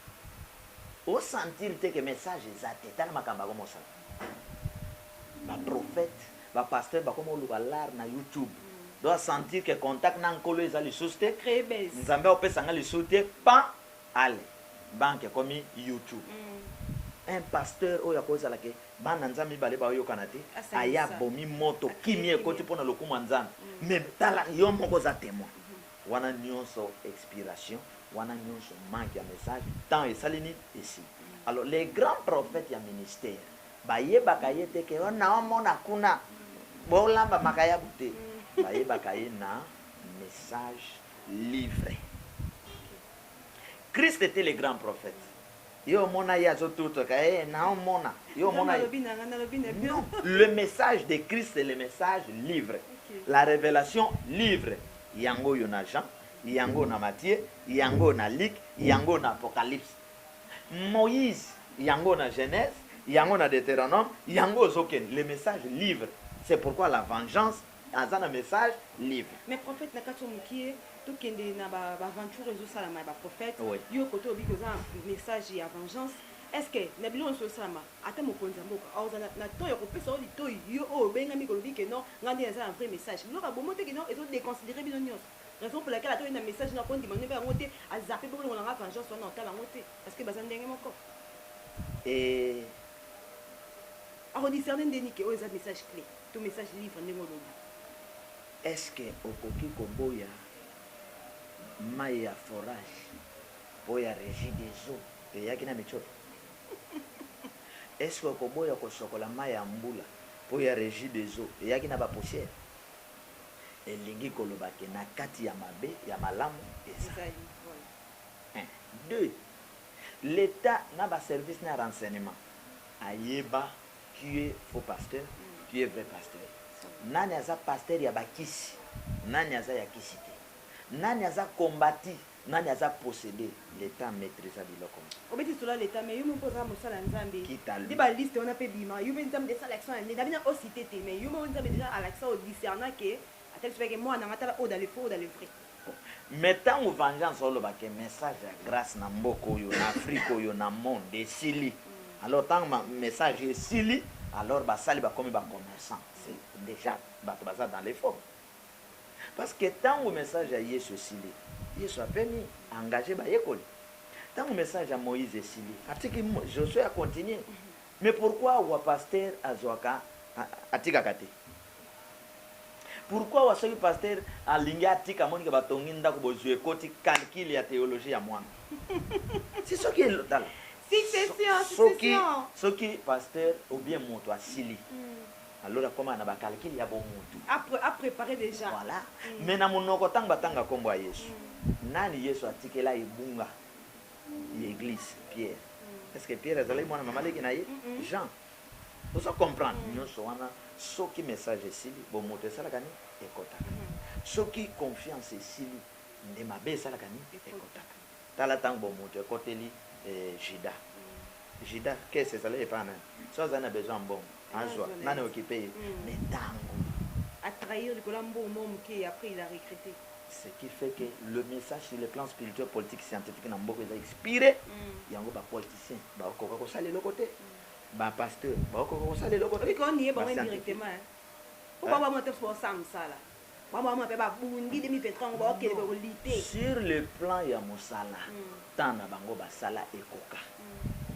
o sentir te que message eza te tala makambo akomosana ba prophète Ba pasteurs bakoma koluka lar na youtube donc a sentir que contact na nkolo eza lisusu te nzambe akopesa nga lisusu te pan alle banque ekomi youtube un pasteur oyo akoki kozala que bana nzambe mibale baoyokana te aye abomi moto kimia ekoti pona lokumu ya nzambe mais tala yo moko oza temoin wana nionso expiration wana nionso manque ya message temps esali nini esili alors les grands prophètes ya ministère Bayebaka ye te ke nao mona kuna bo lamba makayabu te bayebaka ye na message livre christ te le grand prophète yo omona ye azo tutoka he nao mona yo omona non le message de christ le message livre la revelation livre yango oyo na jean yango na mathieu yango na luc yango na apocalypse Moïse yango na Genèse yango na Deuteronome yango ozo kende le message livre c'est pourquoi la vengeance aza na message livre. Mais prophète na kati oyo mukie to kende na ba aventure ezo salama ya ba prophète yo kote olobi ke oza na message ya vengeance est ce que na biloko nionso ezo salama ata mokonzi ya mboka ako zala na temps yako pesa yo litoyi yo oyo obengami kolobi ke non nga nde naza na vrai message biloko ya bomote ke non ezo deconsidere bino nionso Raison pour laquelle ata oye na message nayo ko ndima noyeba yango te a zappe bo longola nga vengeance wana otala yango te parce que baza ndenge moko eeh. Ako discerner ndeni ke oyo eza message cle to message livre ndenge olobi. Est ce que okoki koboya mayi ya forage po ya regie des eaux eyaki na mitshopo? Est ce que okoboya kosokola mayi ya mbula po ya regie des eaux eyaki na ba poussière? Elingi koloba que na kati ya mabe, ya malamu ezali. Un. Deux, l'Etat na ba services na ya renseignement ayeba qui est faux pasteur, qui est vrai pasteur. Nani aza pasteur ya ba kisi, nani aza ya kisi te. Nani aza combati. Nani aza possede? L'etat maitrisa biloko nionso. Obeti lisolo ya l'etat mais yo moko pe oza mosali ya nzambe nde ba liste wana pe ebima yo pe nzambe asala action ya nde na bino o cite te mais yo moko nzambe dejà alakisa o discerna que ata biso bayeke muana na nga tala oyo dans le faux oyo dans le vrai. Mais tangu vengeance oloba que message ya grace na mboka oyo na afrique oyo na monde esili alors tangu ma message esili alors basali bakomi ba commerçants c'est dejà batu baza dans le faux. Parce que tango message ya Yesu esili, Yesu apemi, a engager bayekoli. Tango message ya Moïse esili, atiki Josue a continuer. Mais pourquoi awa pasteur azuaka, atikaka te? Pourquoi awa soki pasteur alingi atika, amoni que batongi ndaku, bozui ekoti, calcul ya theologie ya mwana. Si soki, tala. Succession, succession. Soki, soki pasteur ou bien mutu asili. Alor akomaka na ba calcul ya bo mutu. A preparer dejà. Voilà. Mais na munoko tangu batanga kombo ya Yesu, nani Yesu atikela ebunga ya eglise? Pierre. Est-ce que Pierre azalaki mwana mama leki na ye? Jean. Ozo comprendre? Nionso wana soki message esili, bo mutu esalaka nini? Ekotaka. Soki confiance esili, nde mabe esalaka nini? Ekotaka. Tala ntango bomoto ekoteli Juda. Juda, caisse ezalaki epai ya nani? Soki azali na besoin ya mbongo, azua. Nani a occuper ye? Mais ntango. A trahir likolo ya mbongo moko moke et après il a regrette. Ce qui fait que le message sur le plan spirituel, politique, scientifique na mboka eza expire, yango ba politiciens bakokoka kosala eloko te, ba pasteurs bakokoka kosala eloko te, ba scientifiques. Okoki koyeba bango ata biso baosala mosala. Bango bamona mpe babundi 2023 yango bakokende ko lutter. Sur le plan ya mosala, temps na bango basala ekoka.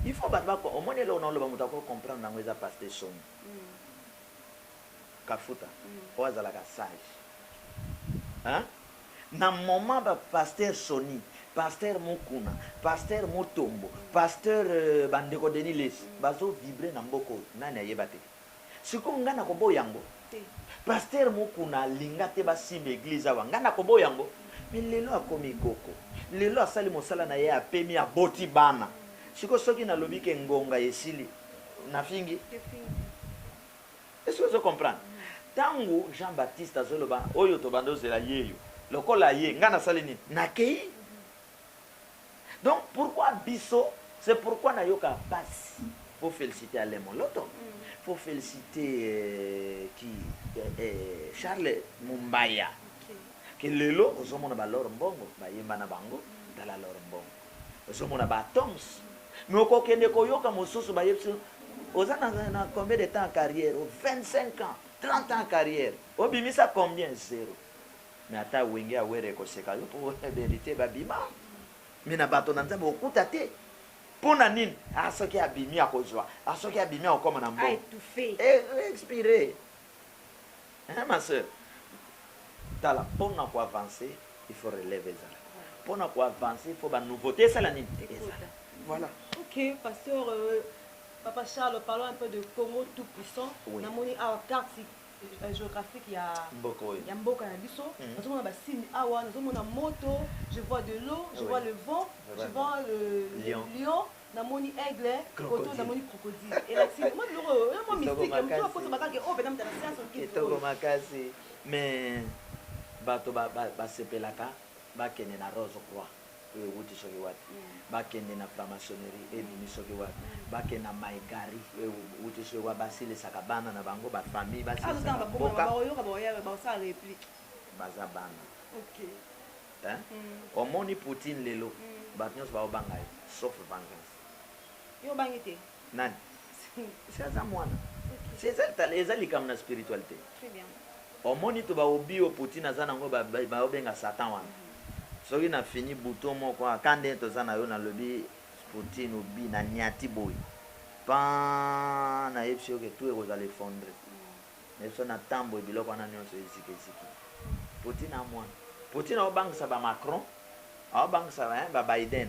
Il faut bato ba omoni eloko na oloba moto ako comprendre yango eza pasi te soni. Kafuta oyo azalaka sage hein na moment ba pasteur Sony, pasteur Mukuna, pasteur Mutombo, pasteur ba ndeko Denis Lessi bazo vibrer na mboka oyo nani ayeba te? Sikoyo nga nako boya yango te pasteur mukuna alinga te ba simba eglise awa nga nako boya yango mais lelo akomi koko lelo asali mosala naye apemi aboti bana sikoyo soki nalobi ke ngonga esili na fingi est ce que ozo comprendre tangu jean baptiste azo loba oyo tobanda ozela yeyo lokola aye nga nasali nini nakeyi Donc pourquoi biso c'est pourquoi na yoka pasi faut felicite Alain moloto faut felicite qui Charles mombaya que lelo ozo mona ba lor mbongo ba yemba na bango tala lor mbongo ozo mona ba toms mais oko kende ko yoka mosusu ba yebisi oza na, na combien de temps en carrière 25 ans 30 ans en carrière obimisa combien zero Mais ata wenge ya werra ekoseka yo po verite ba bima mais na bato na nzambe okokuta te pona nini ah soki abimi akozua ah soki abimi akokoma na mbo expire hein ma soeur tala pona ko avancer il faut releve ezala pona ko avancer il faut ba nouveauté esala nini ezala voilà ok pasteur euh, papa Charles parlons un peu de Congo tout puissant oui. namoni awa carte euh, geographique ya mboka oyo ya mboka na biso mm. nazomona ba signe awa nazomona moto je vois de l'eau je oui. vois le vent Vraiment. je vois le, le lion, lion namoni aigle koto namoni crocodile elakisi mwa biloko oyo oyo mwa mystique motu akosa bakake oyo mpenza motana sianse okitoko makasi mais bato basepelaka bakende na rose croix oyo ewuti soki wapi ba kende na franc-maçonnerie oyo ebimi soki wapi ba kende na mai gari oyo ewuti soki wapi ba silisaka bana na bango ba famille ba silisaka mboka baza bana hein omoni poutine lelo batu nionso bazo banga ye sauf vengeance. Nani? Si aza mwana. Si eza tala eza likambo na spiritualite. Omoni to ba obi oyo poutine aza nango ba bazo benga satan wana. Soki na fini bouton moko aka nde toza na yo na lobi poutine obi na niati boyi paann na yebisi yo ke tout ekozala effondre na biso na temps boye biloko wana nionso eziki eziki. Poutine a mwana. Poutine azo bangisa ba macron azo bangisa ba biden.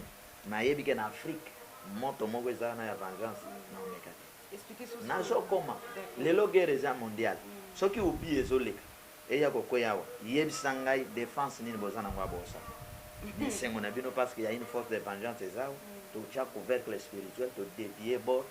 Nayebi ke na Afrique moto moko eza wana ya vengeance nao meka te. Nazo koma lelo guerre eza mondiale soki oublie ezo leka eya ko kweya awa yebisa ngai defense nini boza nango ya bosa esengo na bino parce que ya une force de vengeance eza awa to tia couvercle spirituel to devier bord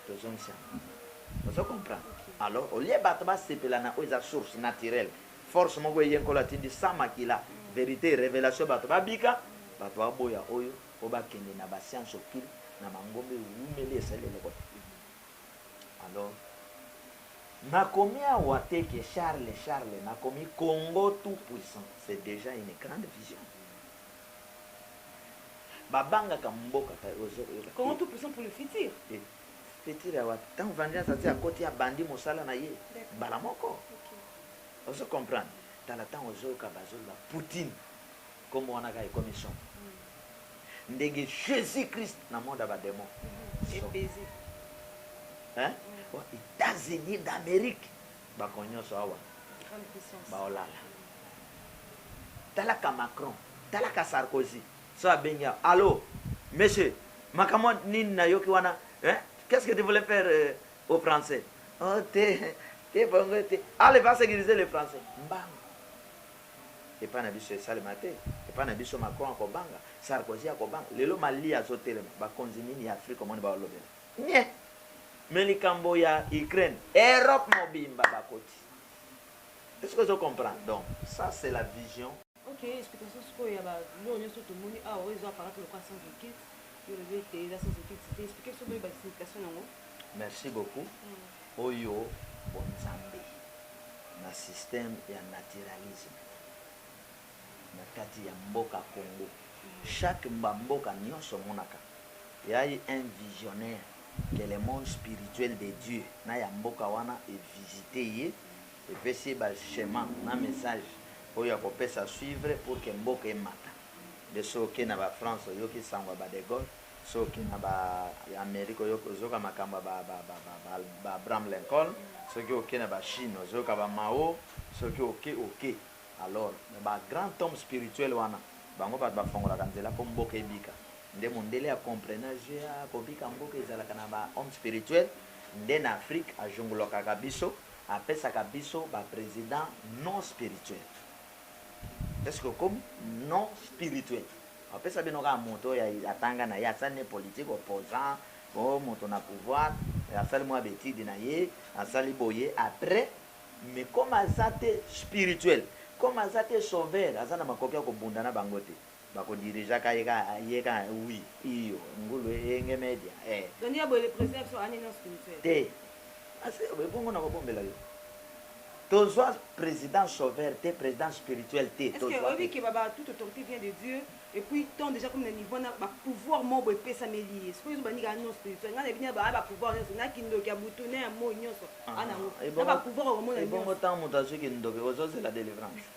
to zongisa yango ozo comprendre alors au lieu batu ba sepela na oyo eza source naturelle Force moko eye nkolo atindi sans makila verite revelation bato ba bika bato ba boya oyo po ba kende na ba science occulte na mangomba ewumeli esali eloko te alors na komi awa te ke charle charle na komi congo tout puissant c'est dejà une grande vision ba bangaka mboka kay ozo koyoka congo tout puissant pour le futur te futur ya wapi tango vengeance ati akoti abandi mosala na ye mbala moko Ozo comprendre tala tango ozoyoka bazoloba poutine kombo wana kaka ekomi somo ndenge jesus christ na monde ya ba demon hein etats unis d'amerique bako nyoso awa baolala talaka macron talaka sarkozy so abengi awa allo monsieur makambo nini nayoki wana hein qu'est ce que tu voulais faire euh, Au français oh te te bongo te allez va securiser le français mbangu epa na biso esalema te epa na biso Macron akobanga Sarkozy akobanga lelo Mali azotelema bakonzi nini ya Afrique omoni baolobela nye me likambo ya Ukraine Europe mobimba bakoti est-ce que ozo comprendre donc ça c'est la vision Ok explication sikoyo ya ba biloko nioso tomoni awa oyo eza apparate lokola sans occulte yo olobi ete eza sans occulte te explique biso boyeba signification na yango. Merci beaucoup oyo bo nzambe na système ya naturalisme na kati ya mboka congo chaque ba mboka nionso omonaka ya ye un visionnaire que le monde spirituel de Dieu na ya mboka wana e visite ye Epesi ye ba schema na message oyo akopesa suivre pour que mboka emata. Nde soki oke na ba France oyoki sango ya ba de Gaulle, soki oke na ba Amerique oyoki ozoyoka makambo ya ba ba ba ba ba ba Abraham Lincoln, soki oke na ba Chine ozoyoka ba Mao, soki oke oke. Alors mais ba grand homme spirituel wana bango bato bafongolaka nzela po mboka ebika. Nde mundele a comprena je ah kobika mboka ezalaka na ba homme spirituel. Nde na Afrique ajungulokaka biso. Apesaka biso ba president non spirituel est ce que okomi non spirituel apesa bino kaka moto oyo atanga na ye asali ne politique opposant po moto na pouvoir asali mua ba etude na ye asali boye après mais comme aza te spirituel comme aza te sauveur aza na makoki ya kobunda na bango te Bako dirigea ka ye ka ye ka oui iyo ngulu enge media eh. Dani ya boye le president ya biso anini nionso kimse. Te Asi ebongo nako bombela yo tozua president sauveur te president spirituel te tozua te. Est ce que oyebi que ba ba toute autorite vient de Dieu et puis ton dejà comme na niveau wana ba pouvoir moko boye epesameli ye sikoyo ezo ba nika nionso spirituel nga na yebi naba ba pouvoir nionso na kindoki ya butu na ya moyi nionso anango naba pouvoir oko mona nionso. Ebongo tango mutu azui kindoki ozo zela delivrance.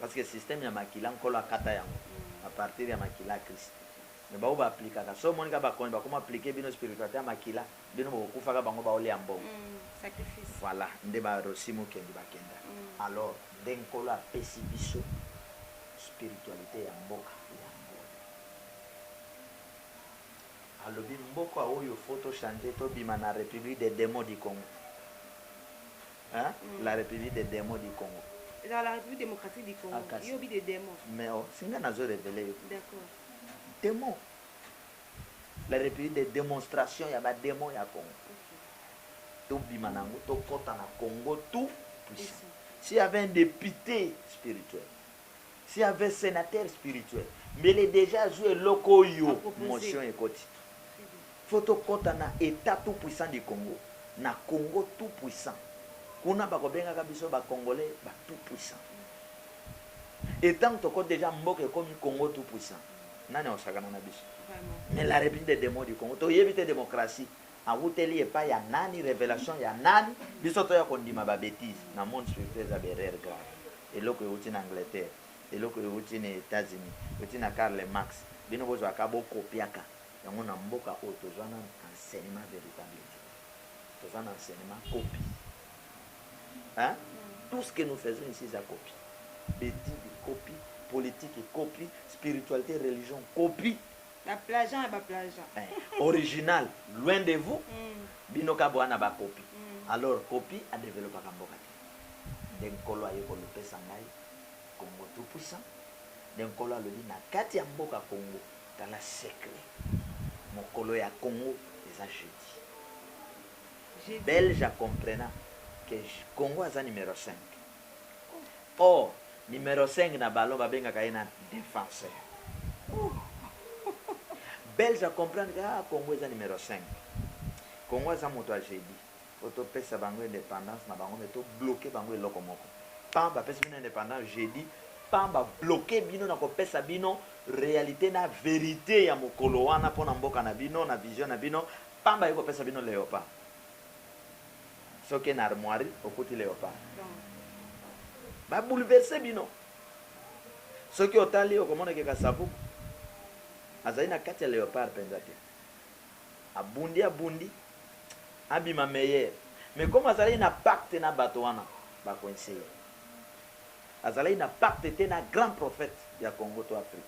Parce que système ya makila nkolo akata yango à partir ya makila ya christ mais ba oyo ba applicaka soki omoni kaka ba konzi bakoma applique bino spiritualite ya makila bino boko kufa kaka bango bao lia mbongo voilà nde ba rossy mukendi ba kenda alors nde nkolo apesi biso spiritualite ya mboka yango alobi mboka oyo faut to changer to bima na republique des demons du congo Hein? Mm. La République des démons du Congo. Ezala la République démocratique du Congo. Akasi. Yo obi des démons. Mais oh, singa nazo révéler yo. D'accord. Démon. La République des démonstrations ya ba démons ya Congo. Okay. Tobima nango, tokota na Congo tout puissant. S'il y avait un député spirituel, Si avait senateur spirituel mbele dejà azui eloko oyo motion ekoti faut tokota na etat tout puissant du congo na congo tout puissant kuna bako bengaka biso ba congolais ba tout puissant et tangu tokoti dejà mboka ekomi congo tout puissant nani akosakana na biso mais la republique de demon du congo toyebi te democratie Awuteli epai ya nani revelation ya nani biso toya kondima ba betise na monde spirituel eza ba erreur grave eloko ewuti na Angleterre eloko ewuti na etats unis ewuti na Karl Marx bino bozua ka bo copiaka yango na mboka oyo tozua nanu enseignement veritable te toza na enseignement copie hein tout ce que nous faisons ici eza copie betise copie politique copie spiritualite religion copie Ba plagiant ya ba plagiant. Eh, original loin de vous, bino ka boya na ba copie. Alors copie a developaka mboka te. Nde Nkolo aye kolopesa ngai Congo tout puissant. Nde Nkolo alobi na kati ya mboka Congo, tala secret, mokolo ya Congo eza jeudi. Belge a comprena que Congo aza numero cinq. oh numero cinq na ballon ba bengaka ye na defenseur belge a comprendre que ah congo eza numero cinq congo aza moto ya jeudi po topesa bango independance na bango me to bloke bango eloko moko pam bapesi bino independance jeudi pam ba bloke bino na kopesa bino realite na verite ya mokolo wana mpo na mboka na bino na vision na bino pamba ye kopesa bino leopa Soki na armoirie okuti leopard ba bouleverse bino soki otali okomona ke kasavubu azali na kati ya leopard penza te abundi abundi abima meilleur mais comme azalaki na pacte na bato wana ba coince ye azalaki na pacte te na grand prophète ya Congo to Afrique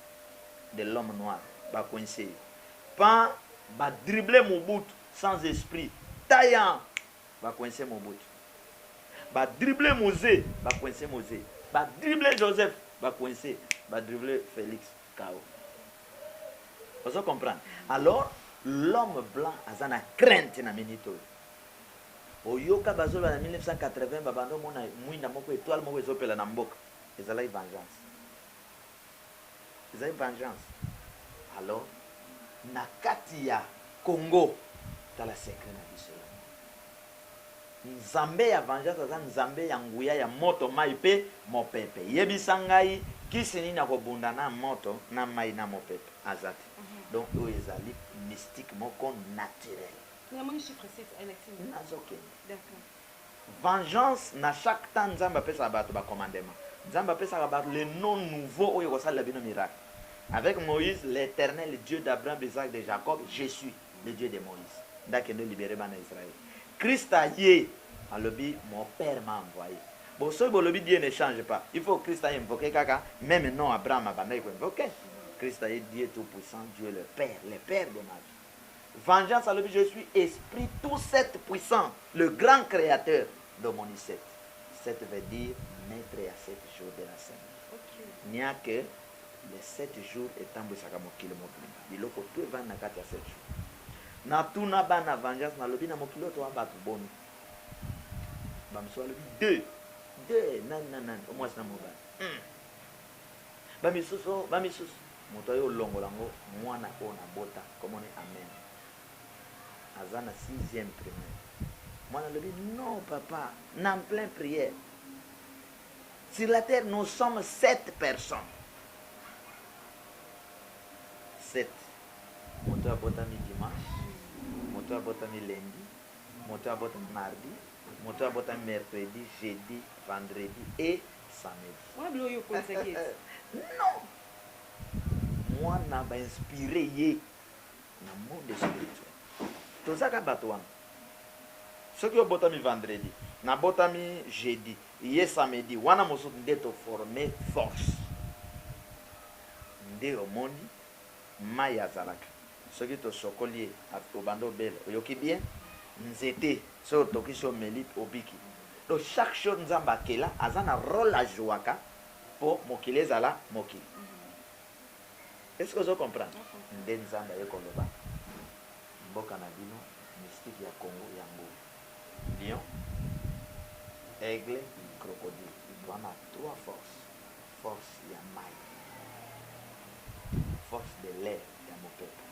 de l'homme noir ba coince ye pan ba dribbler Mobutu Sans esprit taillant ba coince Mobutu ba dribbler Muze ba coince Muze ba dribbler Joseph ba coince ba dribbler Felix KO ozo comprendre alors l'homme blanc aza na crainte na minute oyo oyoka bazo loba na 1980 ba banda omona mwinda moko etoile moko ezo pela na mboka ezalaki vengeance. Ezali vengeance alors na kati ya Congo tala secret na biso ya mboka. Nzambe ya vengeance aza Nzambe ya nguya ya moto mayi pe mopepe. Yebisa ngai kisi nini ako bunda na moto na mayi na mopepe? Aza te. Donc oyo ezali mystique moko naturel. Nazo kende. Vengeance na chaque temps nzambe apesaka batu ba commandement nzambe apesaka batu le nom nouveau oyo ekosalela bino miracle avec moise l'eternel Dieu d'Abraham Isaac de Jacob je suis le Dieu de moise nde akende libere bana Israël christ aye alobi mon père m'a envoye bon soki bolobi Dieu ne change pas il faut christ a invoque kaka meme nom Abraham abandaki ko invoque christ aye Dieu tout puissant Dieu le père le père de ma vie. Vengeance alobi je suis esprit tout sept puissant le grand createur domoni sept sept veut dire maitre ya sept jours de la semaine nia que les sept jours etambwisaka mokili mobimba biloko tout evandi na kati ya sept jours na tuna bana vengeance na lobi na mokili oyo toa batu boni ba misusu balobi deux deux nani na nani omwasi na mobali hmm. ba misusu ba misusu Moto aye olongola ngo mwana oyo na bota kombo ne Amen aza na sixième primaire mwana alobi non papa na en plein prière sur la terre nous sommes sept personnes sept moto oyo abotami dimanche moto oyo abotami lundi moto oyo abotami mardi moto oyo abotami mercredi jeudi vendredi et samedi Wana biloko yo okolisaki ete. non Mwana ba inspire ye na monde spirituel. Toza ka batu wana. Soki obotami vendredi, nabotami jeudi, ye samedi, wana mosusu nde to former force. Nde omoni mayi azalaka soki tosokoli ye obanda obela. Oyoki bien? Nzete soki otokisi omeli obiki. Donc chaque chose Nzambe akela aza na role ajuaka. Po mokili ezala mokili est ce que ozo comprendre nde nzambe aye koloba mboka na bino mystique ya congo ya ngo lion aigle crocodile wana trois force force ya mayi force de l'air ya mopepe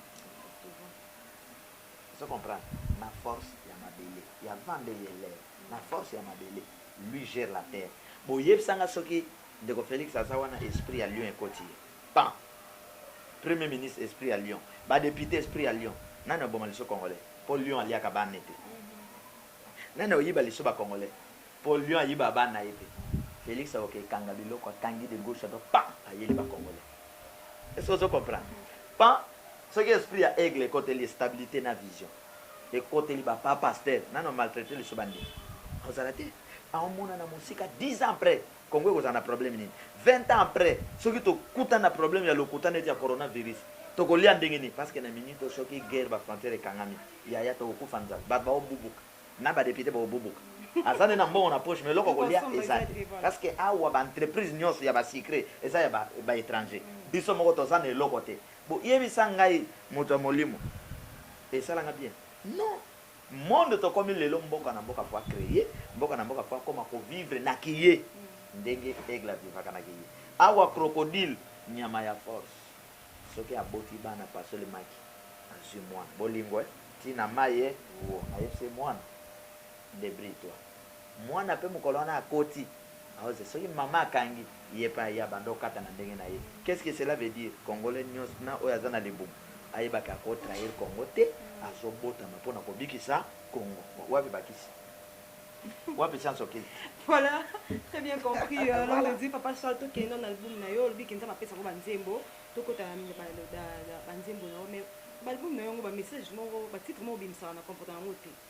ozo comprendre na force ya mabele ya vent nde ye l'air Na force ya mabele lui gère la terre bo yebisa nga soki ndeko Felix aza wana esprit ya lion ekoti ye pan premier ministre esprit ya lion ba depute esprit ya lion nani aboma liso congolais po lion aliaka ba ne te nani oyiba liso ba congolais po lion ayiba ba naye te Felix akoke kanga biloko akangi de gauche à droite pan ayeli ba congolais est ce que ozo comprendre pan soki esprit ya aigle ekoteli ye stabilite na vision. Ekoteli ba pa pasteur nanu a maltraiter lisusu ba ndimi. Akozala te. Ako monana mosika 10 ans après Congo ekozala na problème nini? 20 ans après soki to kutani na problème ya lokuta neti ya corona virus toko lia ndenge nini? Parce que na minute oyo soki guerre ba frontières ekangami yaya toko kufa nzala batu bako bubuka na ba deputes bako bubuka. Aza nde na mbongo na poche mais eloko ya kolia eza te parce que awa ba entreprises nionso ya ba sucres eza ya ba etrangers biso moko toza na eloko te Bo yebisa ngai moto ya molimo esala nga bien non monde tokomi lelo mboka na mboka faut a cree mboka na mboka faut akoma ko vivre na ki ye ndenge aigle a vivaka na ki ye awa crocodile nyama ya force soki aboti bana pasoli maki azui mwana bolingo eh ti na mayi eh wouo ayebisi ye mwana debrie toi. Muana pe mukolo wana akoti aoze soki maman akangi yepe aye abanda okata na ndenge naye qu'est ce que cela veut dire congolais nionso na oyo aza na libumu ayeba ke ako trahir congo te azo botama pona kobikisa congo wapi bakisi wapi science occulte. Voilà très bien compris longue vie papa charle tokende na album nayo olobi ke nzambe apesa ngo ba nzembo tokota na ba nzembo nayo mais ba album nayo yango ba message moko ba titre moko obimisaka na comprendaka ngo te.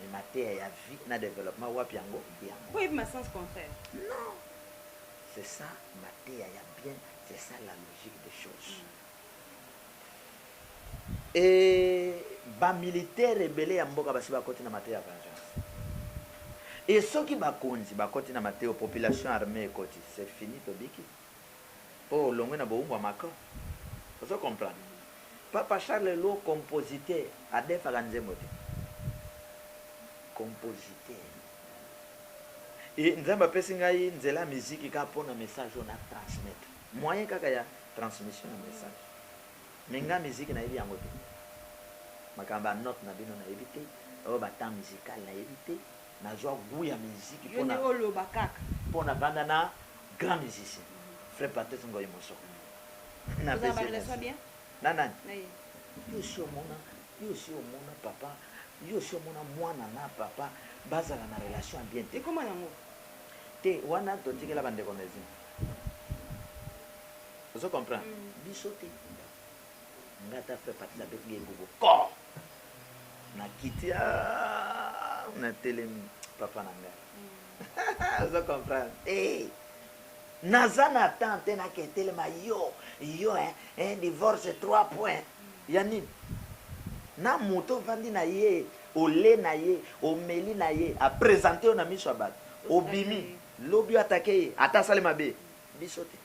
Mais mateya ya vie na developpement wapi yango mpe yango. Mpo oyebi ma sens contraire. Non! C'est ça mateya ya bien, c'est ça la logique des choses. Et ba militaires ebele ya mboka basi bakoti na mateya ya vengeance. Et soki bakonzi bakoti na mateya, population armee ekoti, c'est fini, tobiki. po olongwe na bowumbu ya Macron ozo comprendre papa Charles Lwo compositeur adefaka nzembo te compositeur et nzambe apesi ngai nzela ya musique kaka po na message oyo na transmettre moyen kaka ya transmission ya message mais ngai musique nayebi yango te makambo ya note na bino nayebi te oyo ba temps musical nayebi te. Nazua gout ya miziki pona pona banda na grand musicien frère Patrice Ngoy Mosoko napesi merci na nani yo osi omona yo osi omona papa yo osi omona mwana na papa bazala na relation ya bien te ekoma nango te wana totikela bandeko na ezinga ozo comprendre biso te Nga ata frère Patrice abeti nga egogo koo na kiti aah na telemi papa na nga ozo comprendre eh naza na temps te na ke telema yo yo hein eh, divorce 3 points ya nini na moto ovandi na ye ole na ye omeli na ye apresente yo na miso ya bato obimi lobi atake ye ata asali mabe biso te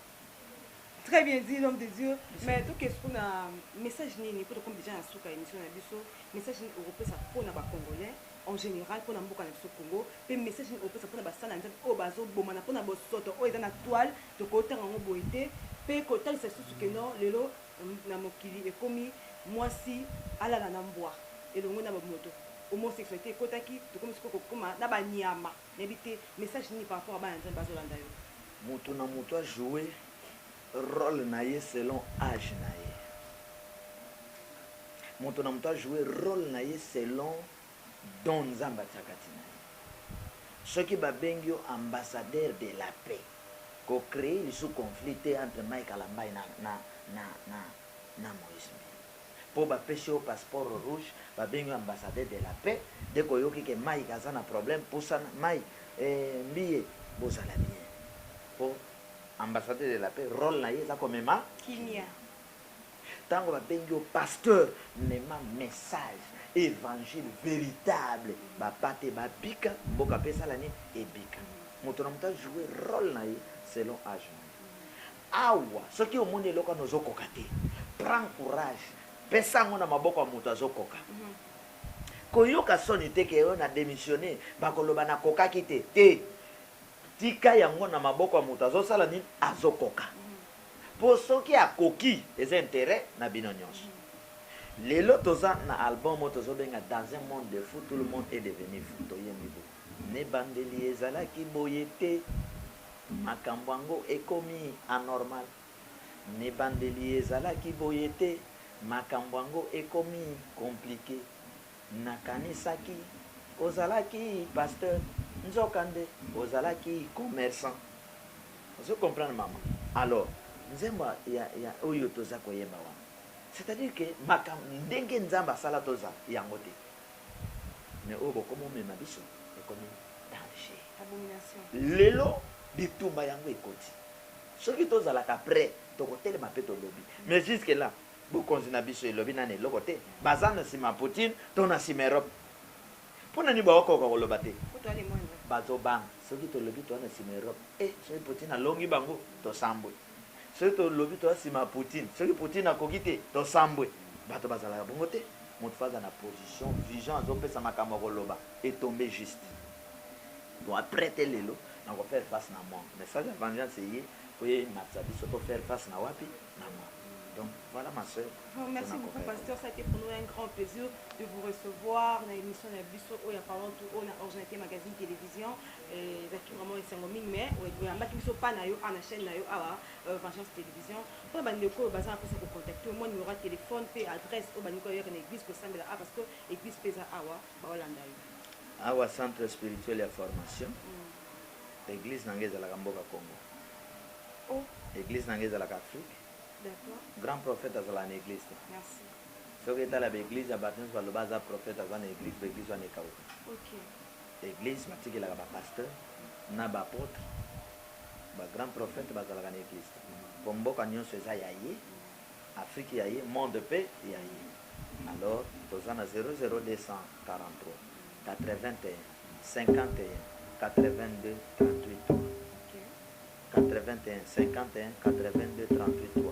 Très bien dit l'homme de Dieu mais toke sikoyo na message nini po tokomi dejà na suka ya emission na biso message nini okopesa po na ba congolais en general po na mboka na biso Congo pe message nini okopesa po na basali ya Nzambe oyo bazo bomana po na bosoto oyo eza na toile tokoki tanga yango boye te pe kotalisa lisusu que non lelo na mokili ekomi mwasi alala na mbwa elongo na ba moto homosexualite ekotaki tokomi sikoyo kokoma na ba nyama. Nayebi te message nini par rapport ya bana nzambe bazo landa yo. Mutu na mutu a jouer role na ye selon age na ye mutu na mutu a jouer role na ye selon don nzambe atiaka ti na ye soki ba bengi yo ambassadeur de la paix ko creer lisusu conflit te entre Mike Kalambay na na na na Moise Mbiye. po ba pesi yo passeport rouge ba bengi yo ambassadeur de la paix dès ko yoki ke Mike aza na problème pusana Mike eeh mbiye bo zala bien po ambassadeur de la paix role na ye eza ko mema kimia tango ba bengi yo pasteur mema message evangile veritable ba pate ba bika mboka pe esala nini ebika moto na moto a jouer role na ye selon age na ye. Awa soki omoni eloko wana ozo koka te prend courage pesa yango na maboko ya mutu azo koka koyoka soni te ke oh na demissionne bako loba na kokaki te te tika yango na maboko ya mutu azo sala nini azo koka po soki akoki eza interet na bino nionso lelo toza na album oyo tozo benga dans un monde de fou tout le monde est devenu fou toyembi boye na ebandeli ezalaki boye te. Makambo yango ekomi anormal? N'ebandeli ezalaki boye te, makambo yango ekomi complique? Nakanisaki ozalaki pasteur nzoka nde ozalaki commerçant. Ozo comprendre maman? Alors nzembo ya ya oyo toza koyemba wana c'est à dire que makambo ndenge nzambe asala tozala yango te. Mais oyo bokomi omema biso ekomi danger. Abomination. Lelo bitumba yango ekoti. Soki tozalaka pret tokotelema pe tolobi. Mais jusque là bokonzi na biso elobi nanu eloko te. Baza na sima Poutine to na sima Europe. Pona nini bakokoka koloba te? Bazo banga soki tolobi toza na sima Europe. Eh soki Poutine alongi bango tosambwe. Soki to lobi toza sima ya poutine soki poutine akoki te to sambwe bato ba zalaka bongo te moto faut aza na position vision azo pesa makambo ako loba e tombe juste po a pret te lelo na ko faire face na monde mais sage ya vengeance eye po e matisa biso to faire face na wapi na monde donc voilà ma soeur Bon, merci Tona beaucoup, kokaya. Pasteur. Ça a été pour nous un grand plaisir de vous recevoir dans l'émission de Bisso Oya Parlons Tout Haut, dans Originalité Magazine Télévision. Eh, ezalaki vraiment esengo mingi mais oyambaki biso pa na yo awa na chaîne na yo awa euh, vengeance télévision mpo na bandeko oyo baza mposa kocontacte yo mwa numero ya telefone mpe adresse oyo balingi koyaka na église kosambela awa parce que église mpe eza awa baolanda yo awa centre spirituel ya formation mm. église na ngai ezalaka mboka congo oh. église na ngai ezalaka afrique grand prophète azalaka na église te soki etala baeglise ya bato nyonso baloba aza prophète aza na église baeglise wana ekauka Eglise batikelaka ba pasteur na ba apotre ba grand prophete bazalaka na eglise te po mboka nionso eza ya ye afrique ya ye monde pe ya ye alors toza na 0024381501838 81501838 3.